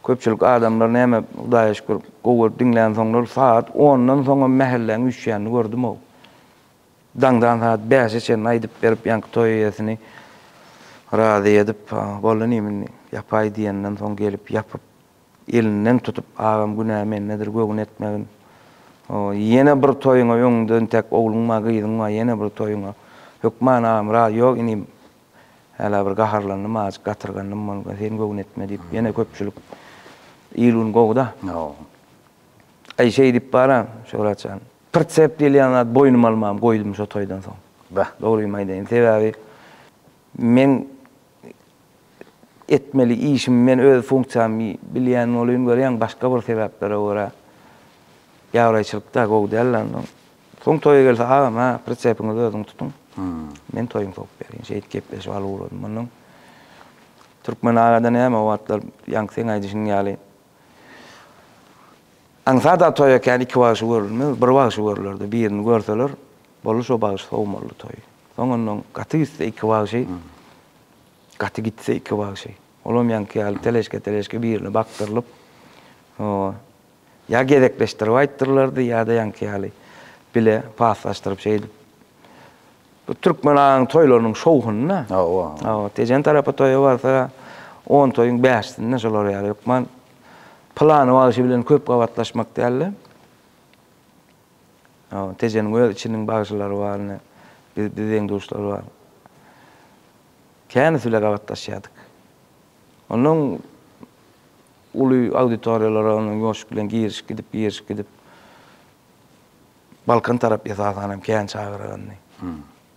köpçülik adamlar näme hudaýa şükür gowy görüp diňlän soňlar sagat ondan soňam mähelläň üýşýänini gördümow daňdan sagat bäşe çenli aýdyp berip ýaňky toý eýesini razy edip bolly nim indi ýapaý diýenden soň gelip ýapyp Elinden tutup, Agam, günä mendedir, göwün etmegin. O, ýene bir toýuňa öňüňde intäk ogluň bar, gyzyň bar, ýene bir toýuňa. Hökman agam, Raz, ýok, inim, hälä bir gaharlandym, azajyk gatyrgandym bolka, sen göwün etme diýip, ýene köpçülik il gün gowy-da. Aý, şeýdip baran, Şöhrat jan, pritsep diýilýän zat boýnuma almagam goýdum şo toýdan soň. Dogrymy aýdaýyn, sebäbi men etmeli işimi men öz funksiýamy bilýän bolyn görýän başga bir sebäplere görä ýabraýçylykda gowy däldi ondan soň toýa gelse agam ha pritsepinizi özüňiz tutuň men toýuňy sokup berýin şeýdip gepleşip alyp ugradym ondan türkmen agada näme o wagtlar ýaňky seň aýdyşyň ýaly aňsat a toýa kän iki bagşy görülmez bir bagşy görülerdi birini görseler Boldy şo bagşy sowmaly toý. Soň ondan gaty gitse iki bagşy, gaty gitse iki bagşy. Olam ýaňky ýaly teleşke-teleşke birine bakdyrylyp, ýa gezekleşdirip aýtdyrlardy, ýa-da ýaňky ýaly bile paslaşdyryp şeýdip. Bu türkmen aýagynyň toýlarynyň şowhunyna. Hawa. Hawa, Tejen tarapa toýa barsa, on toýuň bäşisinde şolar ýaly hökman pylany bagşy bilen köp gabatlaşmak däl-de. Tejeniň öz içiniň bagşylary bar, ine, biz deň-duşlar bar. Känesi bile gabatlaşýardyk. Onnoň uly auditoriýalara onnoň ýoşup bilen girişip gidip, girişip gidip, Balkan tarap esasanam kän çagyrandy.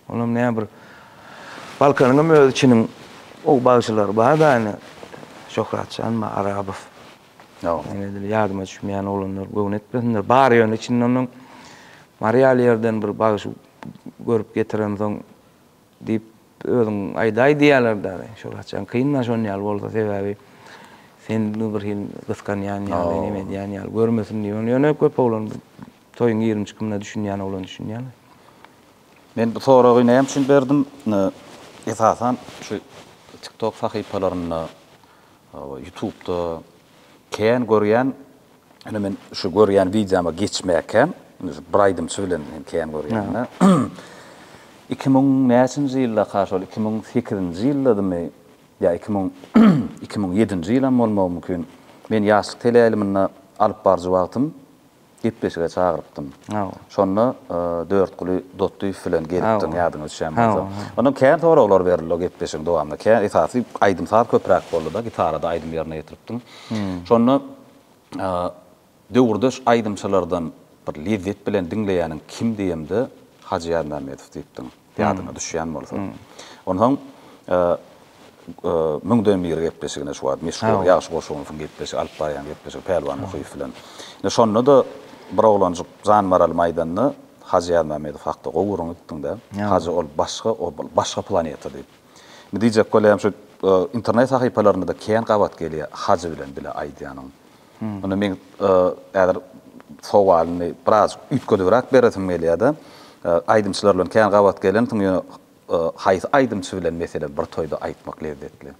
Olam ne bir Balkanyňam öz içiniň gowy bagşylary bar da ine Şöhratjan bar Arabow. Ýok. Ine edil ýadyma düşmeýän oglanlar göwün etmesinler. Bar ýöne içinde onuň Mary ýaly ýerden bir bagşy görüp getiremsoň diýip özüň aýdaý diýýärler dagy. Şöhratjan kyn da şon ýaly bolsa sebäbi sen bir hil gysganýan ýaly neme edýän ýaly görmesin diýip ony ýöne köp oglan toýuň ýigrimi çykymyna düşünýän oglan düşünýärler. Men bu soragy näme üçin berdim? Esasan şu tiktok sahypalarynda, ýutubda kän görýän, ine men şu görýän wideoma geçmäkäm, ine şu bir aýdymçy bilen men kän görýän-dä. Iki müň näçinji ýyldaka şol iki müň sekizinji ýyldadymy ýa iki müň iki müň ýedinji ýylam bolmagy mümkin, men ýaşlyk teleýaýlymynda alyp baryjy wagtym, gepleşige çagyrypdym. Hawa. Şonda Dörtguly Dotdyýew bilen gelipdiň, ýadyňa düşýän bolsa. Ondan kän soraglar berildi o gepleşigiň dowamynda. Kä esasy aýdym-saz köpräk boldy-da, gitarada aýdym ýerine ýetiripdiň. Şonda döwürdeş aýdymçylardan bir lezzet bilen diňleýäniň kim diýemde, Hajy Ýazmämmedow diýipdiň. ýadyňa düşýän bolsa. Onsoň Müňden bir gepleşigine şu wagt meşhur Ýagşy Goşunowyň gepleşigi, alyp barýan gepleşigi Pälwan Muhyýew bilen. Ine şonda-da bir oglanjyk jan maralymy aýdanda, Hajy Ýazmämmedow hakda gowy gürrüň etdiň-dä, Hajy ol başga, ol bir başga planeta diýip. Indi diýjek bolýan şu internet sahypalarynda-da kän gabat gelýär Hajy bilen bile aýdýanyň. Indi meň häzir sowalyny biraz üýtgedibräk beresim gelýär-de. Aýdymçylar bilen kän gabat gelensiň, ýöne haýsy aýdymçy bilen, meselem, bir toýda aýtmak lezzetli?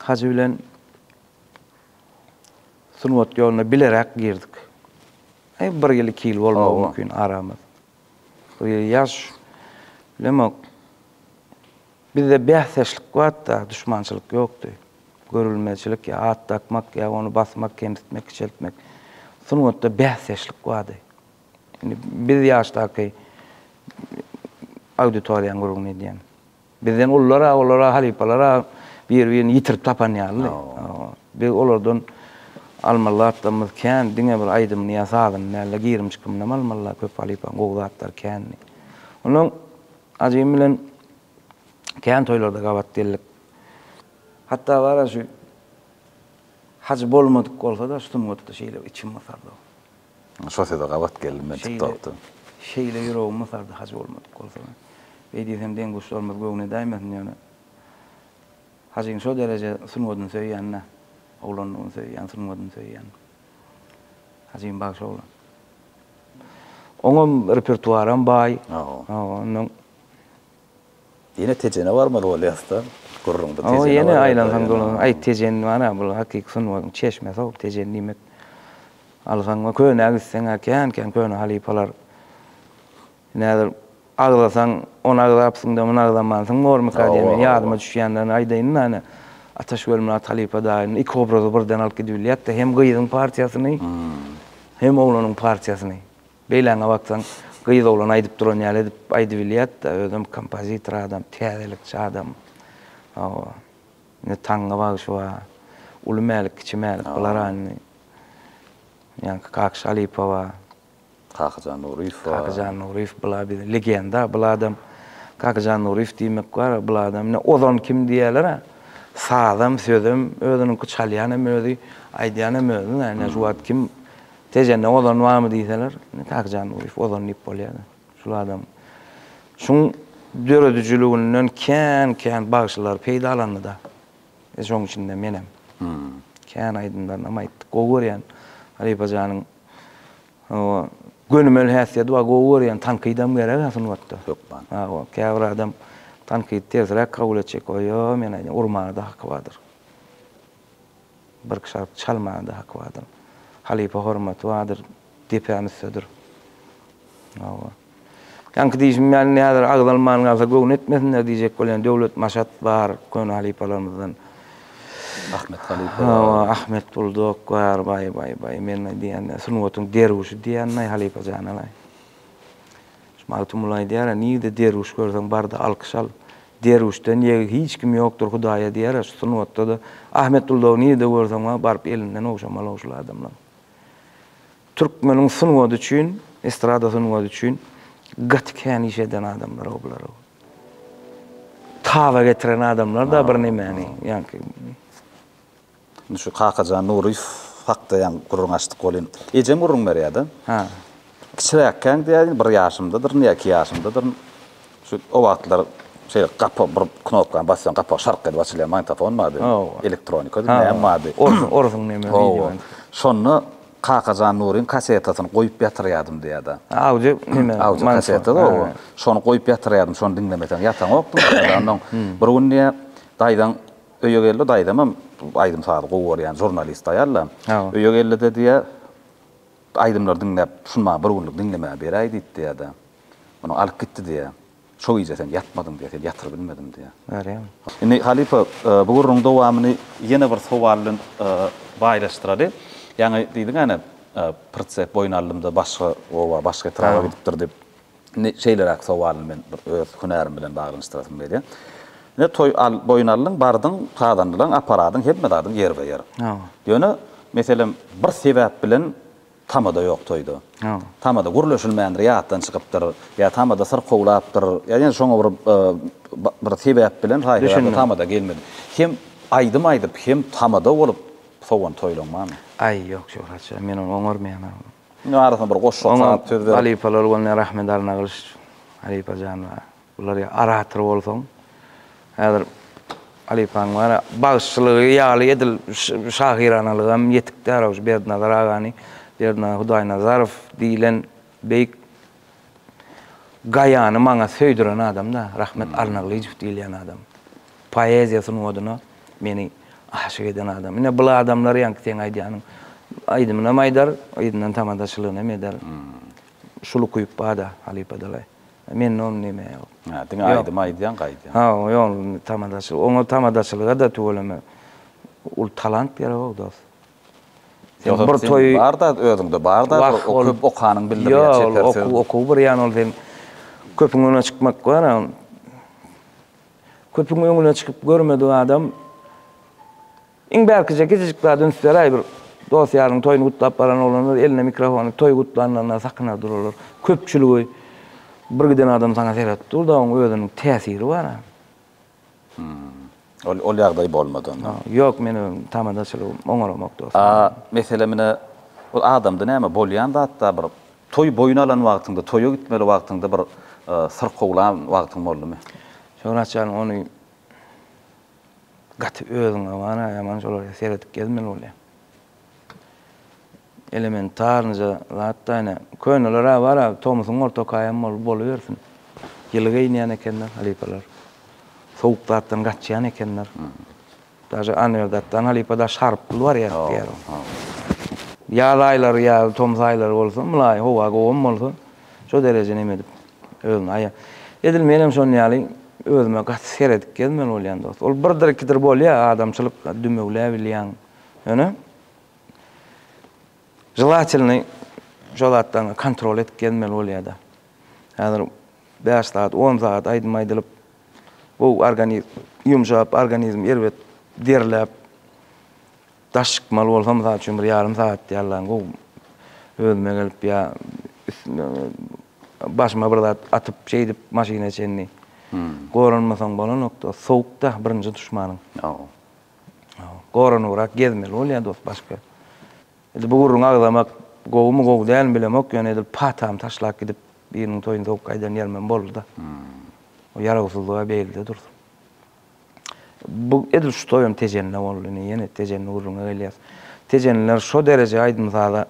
Hajy bilen sungat ýoluna bileräk girdik. Bir ýyl, iki ýyl bolmagy mümkin aramyz. Ýaş, bilemok, Bizde bäsdeşlik batda duşmançylyk ýokdy. Görülmeçilik ýa at dakmak ýa ony basmak, kemsitmek, kiçeltmek. Sungatda bäsdeşlik bardy. Indi biz ýaşdaky auditoriýaň gürrüňini edýän. Bizden ulylar-a, olar-a, halypalar-a bir-birini ýitirip tapan ýalydy. Biz olardan almalatdamyz kän, diňe bir aýdymyny ýa sazyny däl-de, girim-çykymynam almaly köp halypaň gowy zatlary kändi. Onsoň Ajygym bilen kän toýlarda gabat geldik. Hatda bar-a şu Hajy bolmadyk bolsa-da şu sungatda şeýle içim mysardy. Şo söze gabat geldim men TikTokda. Şeýle ýüregim mysardy Hajy bolmadyk bolsa. Beý diýsem deň-duşlarymyz göwne dämesin ýöne Hajyň şo dereje sungatyny söýýän-dä. Oglanlygyny söýýän, sungatyny söýýän. Azim bagşy oglan. Oňam repertuaram baý. Ondan Ýene Tejene barmaly bolýasda, gürrüňde Tejene barýar. Ýene aýlansaň dolansaň, aý Tejen bar-a, bul hakyky sungatyň çeşmesi-ow, Tejen diýmek. Alsaň we könä gitseň-ä kän-kän köne halypalar Nädip agzasaň, ony agzapsyň-da, muny agzamansyň bormyka diýen men ýadyma düşýänlerini aýdaýyn-da, ine, Ataşgöl bilen Atalypa daýyny, iki obrazy birden alyp gidip bilýäs-de, hem gyzyň partiýasyny, hem oglanyň partiýasyny. Beýläňe baksaň, gyz oglana aýdyp duran ýaly edip aýdyp bilýär-de, özem kompozitor adam, täzelikçi adam. Hawa. Indi Taňňa bagşy bar. Uly Mälik, Kiçi Mälik, bular-a indi. Ýaňky Kakşy halypa bar. Kakyjan Nuryýew bar. Kakyjan Nuryýew bula bir legenda, bul adam Kakyjan Nuryýew diýmek bar, bul adam ine Ozan kim diýýäler-ä. Sazam, sözem özüniňki, çalýan hem özi, aýdýan hem özi da. Ine şu wagt kim Tejende Ozan barmy diýseler, ine Kakyjan Nuryýew Ozan diýip bolýar-da. Şul adam şuň döredijiliginden kän-kän bagşylar peýdalandy-da. Şoň içinde menem. Kän aýdymlaryny hem aýtdyk. Gowy görýän halypajanyň Hawa, gönümel häsiýeti bar, gowy görýän, tankydam gerek-ä sungatda. Hökman. Hawa, käbir adam tankydy tersräk kabul etjek, oýo, men aýdýan, urmaga-da haky bardyr. Bir-iki şarpy çalmaga-da haky bardyr. Halypa hormaty bardyr, depäm üstdedir. Hawa. Ýaňky diýşim ýaly, indi häzir agzalman galsa göwün etmesinler diýjek bolýan Döwlet Maşat bar, köne halypalarymyzdan. Ahmet halypa bar. Hawa, Ahmet Buldok bar, baý, baý, baý, men diýýän-ä, sungatyň derwüşi diýýän-aý halypa jana-laý. Şu Magtymguly aýdýar-a, nirde derwüş görseň bar-da alkyş al. Derwüşden ýegi hiç kim ýokdur Hudaýa diýýär-a, şu sungatda-da Ahmet Buldogy nirde görseň-a, baryp elinden ogşamaly-ow şul adamlaryň. Türkmeniň sungaty üçin, estrada sungaty üçin gaty kän iş eden adamlar-ow bular-ow. Taba getiren adamlar-da birnemäni, ýaňky. Indi şu Kakajan Nuryýew hakda ýaňy gürrüň açdyk welin, ejem gürrüň berýär-de. Kiçiräkkäň diýýär, bir ýaşymdadyryn ýa iki ýaşymdadyryn. Şu o wagtlar şeýle gapa bir knopkany basýaň gapak şark edip açylýar magnitofon bardy. Elektronikady näme bardy. Orsuň näme wideo. Şonda Kakajan Nuryň kasetasyny goýup ýatyrýardym diýýärdi. Audio näme. Audio kasetady o. Şony goýup ýatyrýardym şony diňlemeseň ýataňokdym. Ondan bir gün diýýä daýzaň öýe geldi daýzamam aýdym sazy gowy görýän žurnalist aýal-da. Öýe geldi-de diýýä aýdymlary diňläp şuny maňa bir günlük diňlemäge beräý diýdi diýýä-de. Muny alyp gitdi diýýär. Şo gije sen ýatmadyň diýýär, seni ýatyryp bilmedim diýýär. Görýäňmi? Indi, halypa, bu gürrüňiň dowamyny ýene bir sowal bilen baýlaşdyraly. Ýaňy diýdiň-ä, Pritsep boýun aldym-da, başga oba, başga etraba gidipdir diýip. Indi şeýleräk sowalyny men bir öz hünärim bilen baglanyşdyrasym gelýär. Ine, toý boýun aldyň, bardyň, sazandalaň, aparadyň, hemme zadyň ýerbe-ýer. Ýöne, meselem, bir sebäp bilen Tamada ýok toýda. Tamada gürleşilmändir, ýatdan çykypdyr, ýa tamada syrkawlapdyr, ýa ýene şoňa bir bir sebäp bilen saýgalardy tamada gelmedi. Hem aýdym aýdyp, hem tamada bolup sowan toýlaň barmy? Aý, ýok Şöhratjan, men ony oňarmaýan. Arasyna bir goşgy sap, söz berip. Halypalar bolýar, Ahmet Arnagylyç halypajan bar. Bular ýa orator bolsaň, häzir halypaň bar-a, bagşylygy ýaly edil şahyranalygam hem ýetik däl-ow, şu Berdinazar agany, Berdinazar Hudaýnazarow diýlen beýik Gaýany maňa söýdüren adam-da, Rahmet Alnaglyjow diýilýän adam. Poeziýa sungatyna meni aşyk eden adam. Ine, bul adamlar ýaňky seň aýdýanyň aýdymynam aýdar, yzyndan tamadaçylygyny hem eder. Şul ukyp bar-da halypadalaý. Mende ony näme ýok. Hä, diňe aýdym aýdýaň, gaýdýaň. Ha, ýok, tamadaçylyk. Oňa tamadaçylyga-da tüweleme uly talant gerek-ow, dost. Sen bir toýy. Bar-da, özüňde bar-da, köp okanyň bildirýär, çeper söz. Ýok, okuw bir ýan, ol sen köpüň öňüne çykmak bar-a. Köpüň öňüne çykyp görmedik adam Iň bärkije kiçijik zat üns beräý bir dos ýaryň toýuny gutlap baran oglanlar eline mikrofony toý gutlanylanda sakyna duralar köpçüligi bir giden adam saňa seretip dur da oň özüniň täsiri bar a. Hum. Ol ýagdaý bolmady onda. Ýok men özüm tamadaçylygym oňaramok dos. A mesele mine ol adamda näme bolýan zatda bir toý boýun alan wagtyňda toýa gitmeli wagtyňda bir syrkawlan wagtyň boldumy? Şöhratjan ony Gaty özüňe many ýaman şolara seredip gezmeli bolýaň. Elementarnyja zatda ine köneler-ä bar-a tomusyň ortakaýam bolup bolubersin. Ýyly geýinýän ekenler halypalar. Sowuk zatdan gaçýan ekenler. Daže Anwerdatdan halypa daş haryp pul barýardy diýýärler. Ýaz aýlary ýa tomus aýlary bolsa mylaýym howa gowam bolsa, Şo dereje neme edip özüni aýa. Edil menem şon ýaly özüme gaty seredip gezmeli bolýan dost. Ol birdir ikidir bolýa adamçylyk dümewläbilýäň. Ýöne Želatelny şo zatlaryňy kontrol edip gezmeli bolýada. Häzir bäş sagat, on sagat aýdym aýdylyp gowy organizm ýumşap, organizm erbet derläp Daş çykmaly bolsam, mysal üçin, bir ýarym sagat ýallaň gowy özüme gelip ýa başyma bir zat atyp, şeýdip maşyna çenli goranmasaň bolanok dost. Sowuk-da birinji duşmanyň. Goranybrak gezmeli bolýar dost başga. Edil bu gürrüňi agzamak gowumy, gowy dälmi bilemok, ýöne edil patamy taşlap gidip biriniň toýuny sowuk gaýdan ýerimem boldy-da. O ýarawsyzlyk-a beýlede dursun. Bu edil şu toýam Tejenine boldy. Ine, ýene Tejenini gürrüňe gelýäs. Tejenliler şo dereje aýdym-saza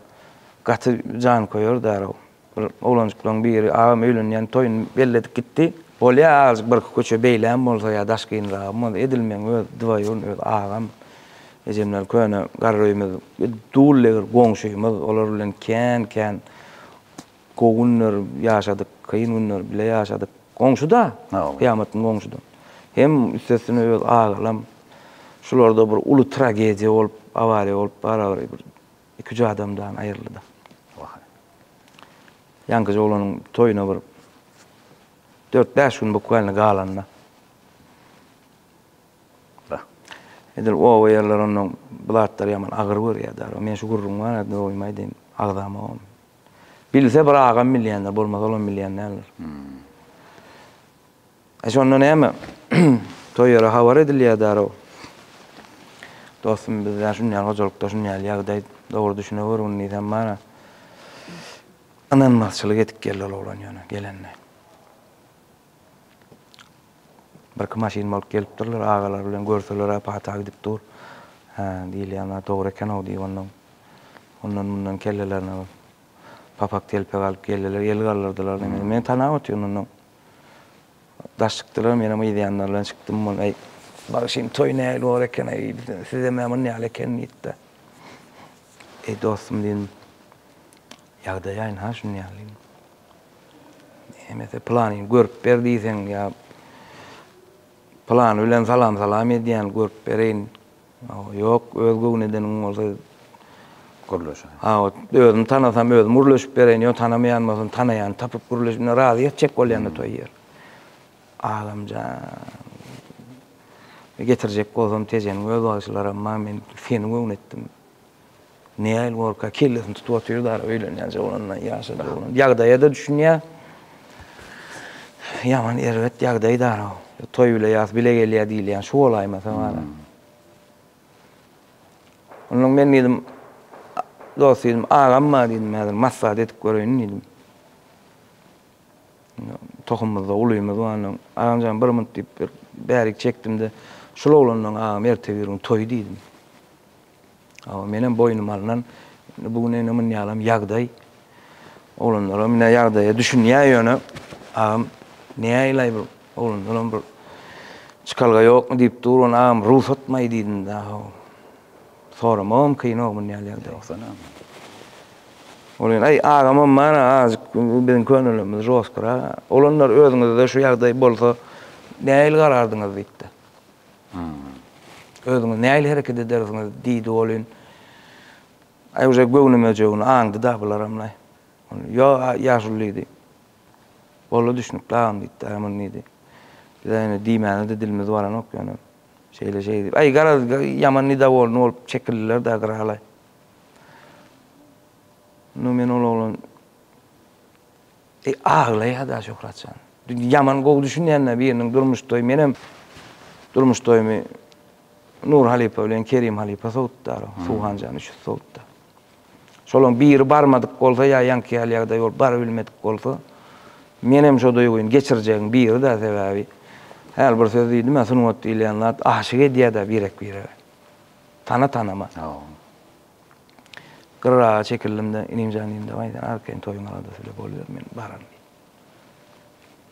gaty janköýerdi-ä-ow. Bir oglanjyklaryň biri, Agam öýlenýän, toýuny belledik gitdi. Bolýa, azajyk birki köçe beýläm bolsa ýa daşgynragam bolsa, edil meň öz dwaýurny, öz agam, ejemler köne garryýmyz, dull-egir goňşymyz, olar bilen kän-kän Gowy günler ýaşadyk, kyn günler bile ýaşadyk. Goňşuda, Kyýamatyň goňşuda. Hem üstesine öz agalam. Şularda bir uly tragediýa bolup, awariýa bolup barabary bir iki-üç adam dany aýryldy-da. Ýaňkyja oglanyň toýuna bir dört-bäş gün bukwaýlny galanda. Edil oba ýerler onnoň bu zatlary ýaman agyr görýär-dä. Men şu gürrüňi maňa doýmaý diýen agzamogam. Bilse bir agam bilýändir, bolmasa olam bilýän däldir. E şonda näme? Toý ýere habar edilýär därow. Dostum bizde şunýal hojalykda şunýal ýagdaý dogry düşüne gör gündiz hem bana. Ynanmazçylyk edip geldi ol oglan ýöne gelende. Birki maşyn bolup gelipdirler, agalary bilen görseler-ä pata gidip dur. Hä, diýilýän zat dogry eken-ow diýip onnoň ondan-mundan kellelerine bir papak-telpek alyp geldiler, el galdyrdylar diýmek. Meni tanap otyryn onnoň. Daş çykdylar, menem yz ýanlary bilen çykdym. Ol, Äý, bagşym, toý nähili bor eken-ä diýdi. Sizem-ä munýaly eken diýdi-de. Eý, dostum diýdim, ýagdaýaýyň-ha şunýaly diýdim. Hemese pylanyny görüp ber diýseň ýa pylany bilen salam-salam edýän görüp bereýin. Ýok, öz göwnedeniň bolsa gürleşeýin. Hawa, özüm tanasam özüm gürleşip bereýin, ýok tanamaýan bolsam tanaýany tapyp gürleşip indi razy etjek bolýanda toý ýer. Agamjan. Getirjek bolsam tejeniň öz bagşylaram bar, men seni göwnetdim. Neil Worka kellesini tutup otyr da öýlenýän jowlandan ýaşa jowlan. Ýagdaýa da düşünýä. Ýaman erbet ýagdaý da. Toý bile ýas bile gelýä diýilýän şu bolaýmasa bana. Ondan men diýdim dost diýdim agam bar diýdim häzir maslahat edip göreýin diýdim. Tohumymyzda ulymyz bar ondan. Agamjan bir munt diýip bir bärik çekdimde şul oglandan agam ertebirgün toý diýdim. Hawa, menem boýnuma alnan, indi bu gün ene munýalam ýagdaý. Oglanlaram ine ýagdaýa düşünýär ýöne, agam, näýlaý bir oglanlaram bir çykalga ýokmy diýip dur, ony agam rugsatmaý diýdim-de, haw. Soramagam kyn-ow munýal ýagdaý bolsa-da. Ol ýene, aý, agamam bar-a, azajyk biziň könelmemiz žostkyrak. Oglanlar, özüňizde şu ýagdaý bolsa, nähili garardyňyz diýipdi. Hum. Özüňiz nähili hereket edersiňiz? diýdi welin, Aý, uje göwnümejegini aňdy-da bularamlaý. Ol, Ýo, ýaşuly diýdi. Boldy, düşnükli agam diýdi. Aý, muny diýdi. Biz-ä indi diýmäne-de dilimiz baranok ýöne, şeýle-şeý diýip. Aý, garaz, ýaman nidawolny bolup çekildiler-dä gyralaý. Indi men ol oglan. E aglaýada Şöhratjan. Ýaman gowy düşünýända biriniň durmuş toýy menem durmuş toýumy Nur halypa bilen Kerim halypa sowutdar. Suwhanjan üç ýüz sowutda. Şolaň biri barmadyk bolsa ýa ýaňky ýaly ýagdaý bolup bary bilmedik bolsa menem şo duýgyny geçirjegiň biri-dä sebäbi häli bir söz diýdim-ä sungat diýilýän zat aşyk edýädä birek-birege. Tana-tanama. Gyraga çekildim-de, Inimjan diýdim, Dawaý, sen arkaýyn toýuň aladasy bile boluber, men bararyn diýdim.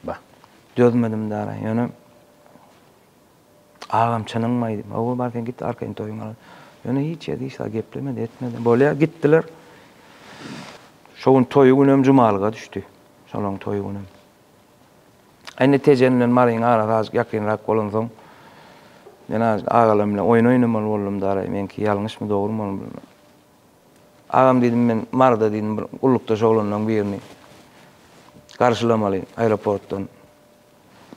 Bah, dözmedim dara, ýöne Agam, çynyňmy aýdym? Hawa, bar sen git, arkaýyn toýuň aladasy. Ýöne hiç ýerde hiç zat geplemedi, etmedi. Bolýar, gitdiler. Şo gün toýy günem jumalyga düşdi. Şolaryň toýy günem. Indi Tejen bilen Maryň arasy azajyk ýakynrak bolansoň, men azajyk agalarym bilen oýun oýnamaly boldum, daraý, meňki ýalňyşmy, dogrumy ony bilmän. Agam diýdim, men Maryda diýdim, bir gullukdaş oglanlaryň birini garşylamaly aeroportdan.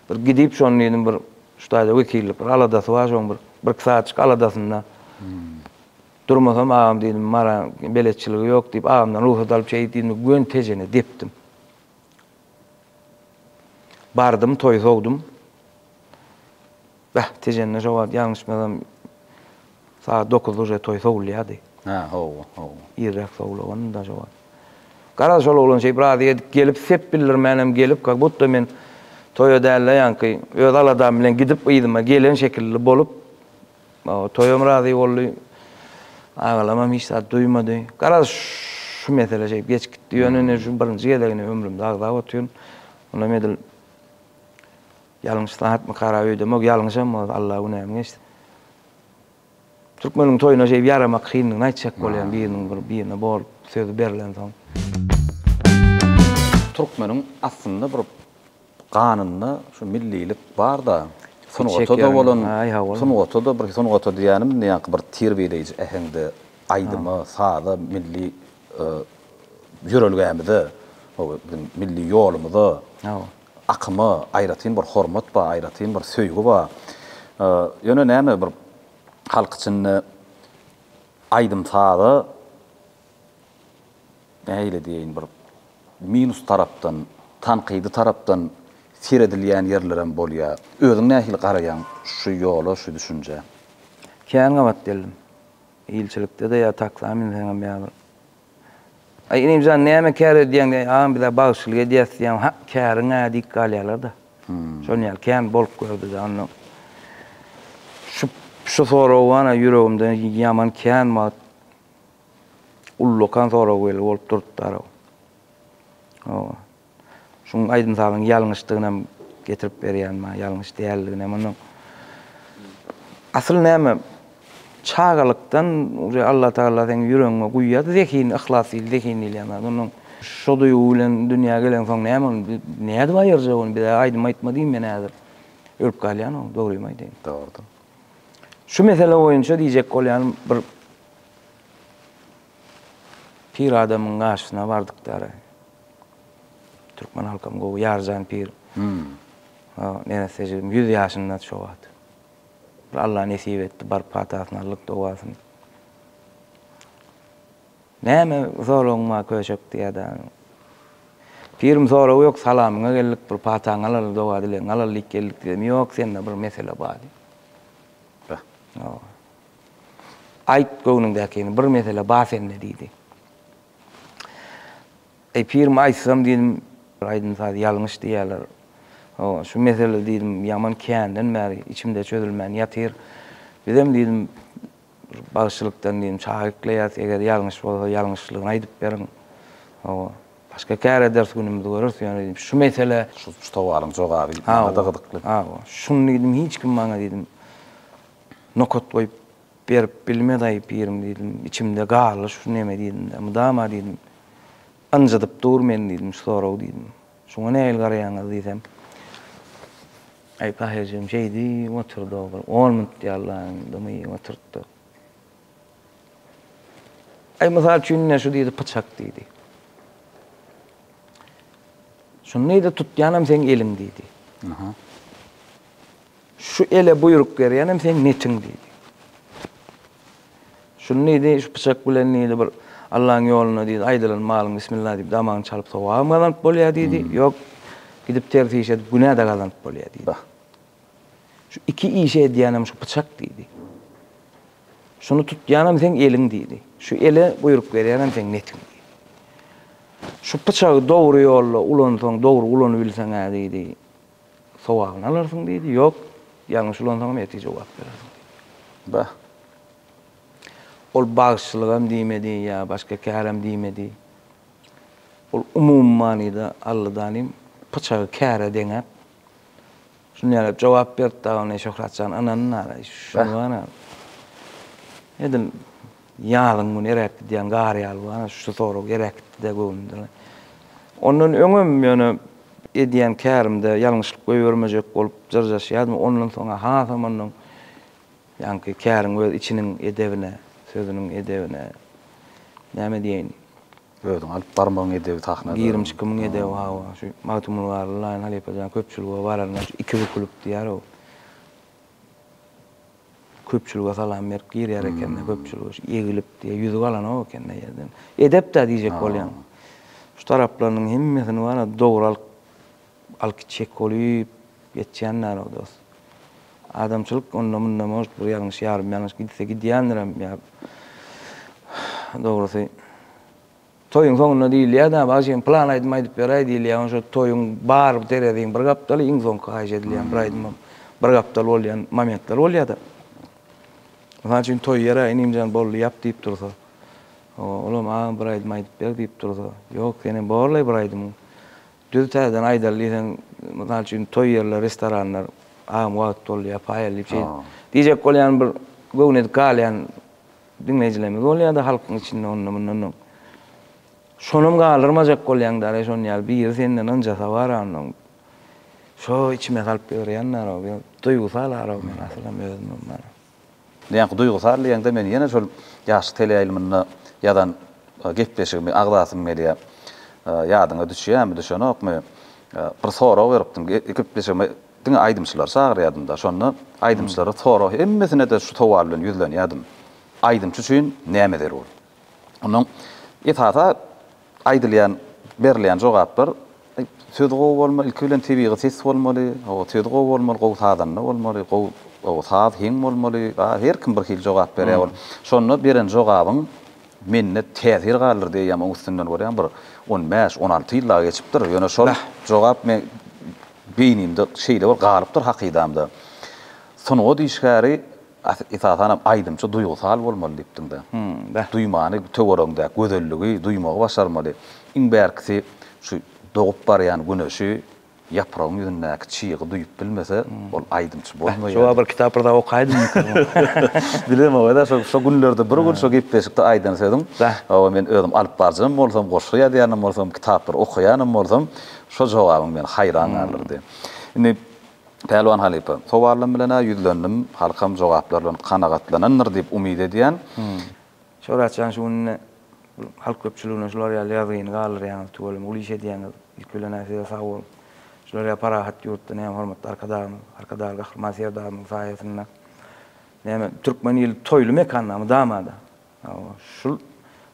Bir gidip, şony diýdim, bir şu taýda wekillik bir aladasy bar, şoň bir birki sagatjyk aladasynda durmasam, agam diýdim, Maryň beletçiligi ýok diýip, agamdan rugsat alyp şeýdip diýdim-de, göni Tejene depdim. Bardym toýy sowdum. Bäh, Tejende şo wagt ýalňyşmasam sagat dokuzda uje toý sowulýardy. Hä, hawa, hawa. Irräk sowulagandy-da şo wagt. Garaz, şol oglan şeýdip razy edip gelip, sep bildirmänem gelip, kak budda men toýa däl-de ýaňky öz aladam bilen gidip yzyma gelen şekilli bolup, Toýam razy boldy. Agalamam hiç zat duýmady. Garaz, şu mesele şeýdip geçip gitdi. Ýöne indi şu birinji gezegini ömrümde agzap otyryn. Onam edil ýalňyş zatmykara öýdemok. Ýalňyşam bolsa, Alla günämi geçsin. Türkmeniň toýuna şeýdip ýaramak kyndygyny aýtjak bolýan biriniň bir birine bolup sözi berlensoň. Türkmeniň aslynda bir Ganynda şu millilik barda sungata-da bolan sungata-da bir sungata diýýänim indi ýaňky bir terbiýeleýji äheňde aýdyma, saza, milli ýörelgämize, o biziň milli ýolumyza, akyma aýratyn bir hormat bar, aýratyn bir söýgi bar. Ýöne näme bir halk içinde aýdym-saza nähili diýeýin, bir minus tarapdan, tankydy tarapdan seredilýän ýerlerem bolýar. Özüň nähili garaýaň şu ýola, şu düşünjä? Kän gabat geldim. Ilçilikde-de ýa taksa münseňem ýa bir. Aý, inim jan, näme kär edýäň diýen, agam biz-ä bagşylyk edýäs diýen, ha, käriň-ä diýip galýarlar-da. Şonuň ýaly kän bolup gördi-de, onda şu soragy ýüregimde ýaman kän wagt. Ullakan sorag weli bolup durupdar-ow. Hawa. Şuň aýdym-sazyň ýalňyşdygynam getirip berýän maňa, ýalňyş däldiginem onuň. Asyl näme, çagalykdan uje Allatagala seň ýüregiňe guýýar zehin, yhlas diýil, zehin diýilýän zat. Onuň şo duýgy bilen dünýä gelensoň näme ony, nädip aýyrjak ony? Biz-ä aýdym aýtma diýiň, men häzir ölüp galýan-ow, dogrymy aýdaýyn. Dogrudyr. Şu mesele boýunça diýjek bolýanym, bir Pir adamyň gaşyna bardykdary. Türkmen halkam gowy Ýarjan pir. Neresse jigim ýüz ýaşyndady şo wagt. Bir Alla nesip etdi, baryp patasyny aldyk, dogasyny. Näme soragyň bar köşek diýýärdi. Pirim sorag ýok, salamyňa geldik, bir pataňy alaly, doga dilegiňi alaly diýip geldik diýdim. Ýok, sende bir mesele bar diýdi. Be. Hawa. Aýt göwnüňdäkini, bir mesele bar sende, diýdi. Eý, pirim, aýtsam, diýdim, aýdym-saz ýalňyş diýýärler. Hawa, şu mesele, diýdim, ýaman känden bäri içimde çözülmän ýatyr. Bizem, diýdim, bagşylykdan, diýdim, çaga ekleýäris, eger ýalňyş bolsa, ýalňyşlygyny aýdyp beriň. Hawa, başga käre ders günümizi göreris, ýöne, diýdim, şu mesele. Şu towaryň jogaby maňa-da gyzykly. Hawa, şuny, diýdim, hiç kim maňa, diýdim, Nokat goýup berip bilmedaý pirim diýdim. Içimde galdy şu neme diýdim-de. Mydama diýdim. Ynjydyp dur meni diýdim şu sorag diýdim. Şuňa nähili garaýaňyz diýsem. Aý Tahyr-jigim şeýdi oturdy-ow bir on minut ýaly dymy oturtdy. Aý mysal üçin ine şu diýdi pyçak diýdi. Şuny-da tutýanam seň eliň diýdi. Aha. Şu ele buýruk berýänem seň netiň diýdi. Şuny diýdi, şu pyçak bilen diýdi bir Allaň ýoluna diýdi, aýdylan malyň bismillah diýip damagyny çalyp sogabam gazanyp bolýar diýdi, ýok, gidip ters iş edip günä-de gazanyp bolýar diýdi. Şu iki işi edýänem şu pyçak diýdi. Şuny tutýanam seň eliň diýdi. Şu ele buýruk berýänem seň netiň diýdi. Şu pyçagy dogry ýolda ulansaň, dogry ulanybilseň-ä diýdi. Sogabyny alarsyň diýdi. Ýok, ýalňyş ulansaňam ertir jogap berersiň diýdi. Bah! Ol bagşylygam diýmedi ýa başga kärim diýmedi. Ol umumy manyda Alladanym pyçagy käre deňäp, şunýaly jogap berip dagy, Şöhratjan ynanyn ara, şuny gana edil. Ýazyň güni eräp gidýän gar ýaly bu, ana, şu sorag eräp gitdi-de göwnümden. Ondan öňem ýöne edýän kärimde ýalňyşlyk goýbermejek bolup jyrjaşýardym, ondan soň-a hasam ondan ýaňky käriň öz içiniň edebine, sözüniň edebine, näme diýeýin, Özüňi alyp barmagyň edebi sahnada. Girim-çykymyň edebi, hawa, şu Magtymguly Garly, Laýyn halypa jan köpçülige baranda şu iki bükülip diýýär-ow. Köpçülige salam berip girýär ekende, köpçülige şu egilip diýe ýüzi galanok ekende ýerden. Edep-dä diýjek bolýan. Şu taraplarynyň hemmesini bar-a dogry alyp alyp gitjek bolup ýetýän dälog dost. Adamçylyk onda-munda может bir ýalňyş ýarym ýalňyş gidse gidýändirem ýa dogrusy. Toýuň soňunda diýilýär, Däbi aga sen plan aýdym aýdyp beräý diýilýär. Ondan soň toýuň bar dereziň bir gapdaly, iň soňky haýyş edilýän bir aýdymam bir gapdal bolýan momentler bolýar-da. Mysal üçin toý ýeri Inimjan boldy ýap diýip dursa, Olam agam bir aýdym aýdyp ber diýip dursa, Ýok, senem borlaý bir aýdymyň. Düz täzeden aýdaly diýseň, mysal üçin toý ýerleri, restoranlar, Agam wagt boldy ýapaýaly diýip şeýdip diýjek bolýan bir göwnedik galýan Diňleýjilerimiz bolýa-da halkyň içinde ondan-mundanam. Şonam galdyrmajak bolýaň däl-ä şon ýaly biri senden ynjasa bar-a onnoň. Şo içime salyp ýörýän däl-ow ýa duýgusal araw men asylam özümem bana. Näme duýgusal diýeňde men ýene şol ýaşlyk teleýaýlymynda ýazan gepleşigimi agzasym gelýä. Ýadyňa düşýämi, düşenokmy? Bir sorag beripdiň. Gepleşigime Diňe aýdymçylary çagyrýadym-da, şonda aýdymçylara sorag, hemmesine-de şu sowal bilen ýüzlenýärdim, Aýdymçy üçin näme zerur? Ondan esasy aýdylýan, berilýän jogaplar, Söz gowy bolmaly, ilki bilen tebigy ses bolmaly, hawa, söz gowy bolmaly, gowy sazanda bolmaly, gowy, hawa, saz heň bolmaly, a, her kim bir hili jogap berýär ol. Şonda beren jogabyň. Mende täsir galdyrdy eýýäm oň üstünden görýän bir on bäş, on alty ýyl dagy geçipdir, ýöne şol jogap meň beýnimde şeýle bir galypdyr hakydamda. Sungat işgäri esasanam aýdymçy duýgusal bolmaly diýipdiňdä. Duýmany töweregiňdäki gözelligi duýmagy başarmaly. Iň bärkisi şu dogup barýan güneşi Ýapragyň ýüzündäki çygy duýup bilmese, ol aýdymçy bolmaýar. Şo wagt bir kitap bir zat okaýdym. Bilem owaýda şo günlerde bir gün şo gepleşikde aýdan sözüň, hawa men özüm alypbaryjam bolsam, goşgy ýazýanam bolsam, kitaplary okaýanam bolsam, şo jogabyň meni haýran galdyrdy. Indi Pälwan halypa, sowalym bilen-ä ýüzlendim, halkam jogaplar bilen kanagatlanandyr diýip umyt edýän. Şöhrat jan şu günde halk köpçüligine şular ýaly ýazgyny galdyrýaňyz tüweleme uly iş edýäňiz ilki bilenä size sag boluň şular ýaly parahat ýurtda näme hormatly arkadagymyz arkadagly gahryman serdarymyzyň saýasynda näme türkmen ili toýly mekanda mydamada hawa şul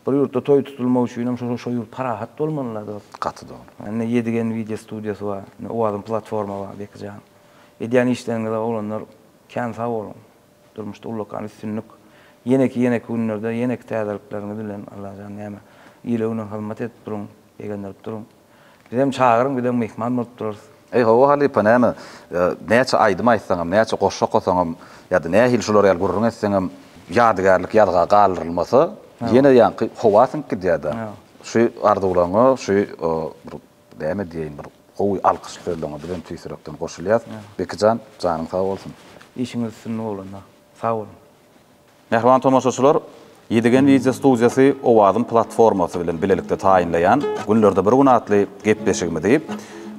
bir ýurtda toý tutulmak üçinem şul şo ýurt parahat bolmalyla dos. Gaty dogry. Ne ýedigen wideo studiýasy bar ne owazyň platforma bar bekijan edýän işleriňize oglanlar kän sag boluň. Durmuşda ullakan üstünlik. Ýeneki ýeneki günlerde ýeneki täzelikleriňiz bilen Allajan näme. Ile güne hyzmat edip duruň. Begendirip duruň. Bizem çagyryň bizem myhman bolup durarys. Eý hawa halypa näme näçe aýdym aýtsaňam näçe goşgy okasaňam ýada nähili şular ýaly gürrüň etseňem ýadygärlik ýazga galdyrylmasa ýene ýaňky howa siňip gidýärda şu arzuwlaryňa şu bir Näme diýeýin bir gowy alkyş sözleňe biz hem tüýs ýürekden goşulýas. Bekijan janyň sag bolsun. Işiňiz üstünlik oglanda. Sag boluň. Mähriban tomaşaçylar, Ýedigen wideo studiýasy Owazym platformasy bilen bilelikde taýynlaýan Günlerde bir gün atly gepleşigimizi,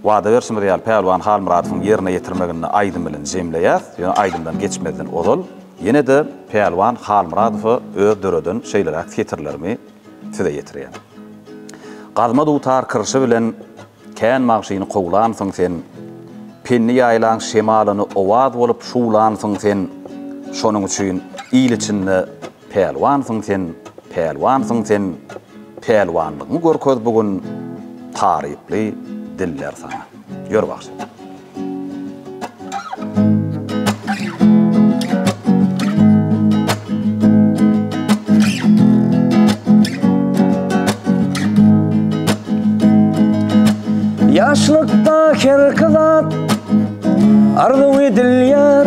wada berşimiz ýaly, Pälwan Halmyradowyň ýerine ýetirmeginde aýdym bilen jemleýäs. Ýöne aýdymdan geçmezden ozal, ýene-de Pälwan Halmyradowa öz döreden şeýleräk setirlerimi, size ýetirýän. Gazma dutar kyrşy bilen kän magşyny kowlansyň sen, Penni ýaýlaň şemalyny owaz bolup şuwlansyň sen, Şonuň üçin il içinde pälwansyň sen, pälwansyň sen, Pälwanlygyňy görkez bu gün, taryply diller saňa. Ýör bagşy. Ýaşlykda her kazat arzuw edilýär.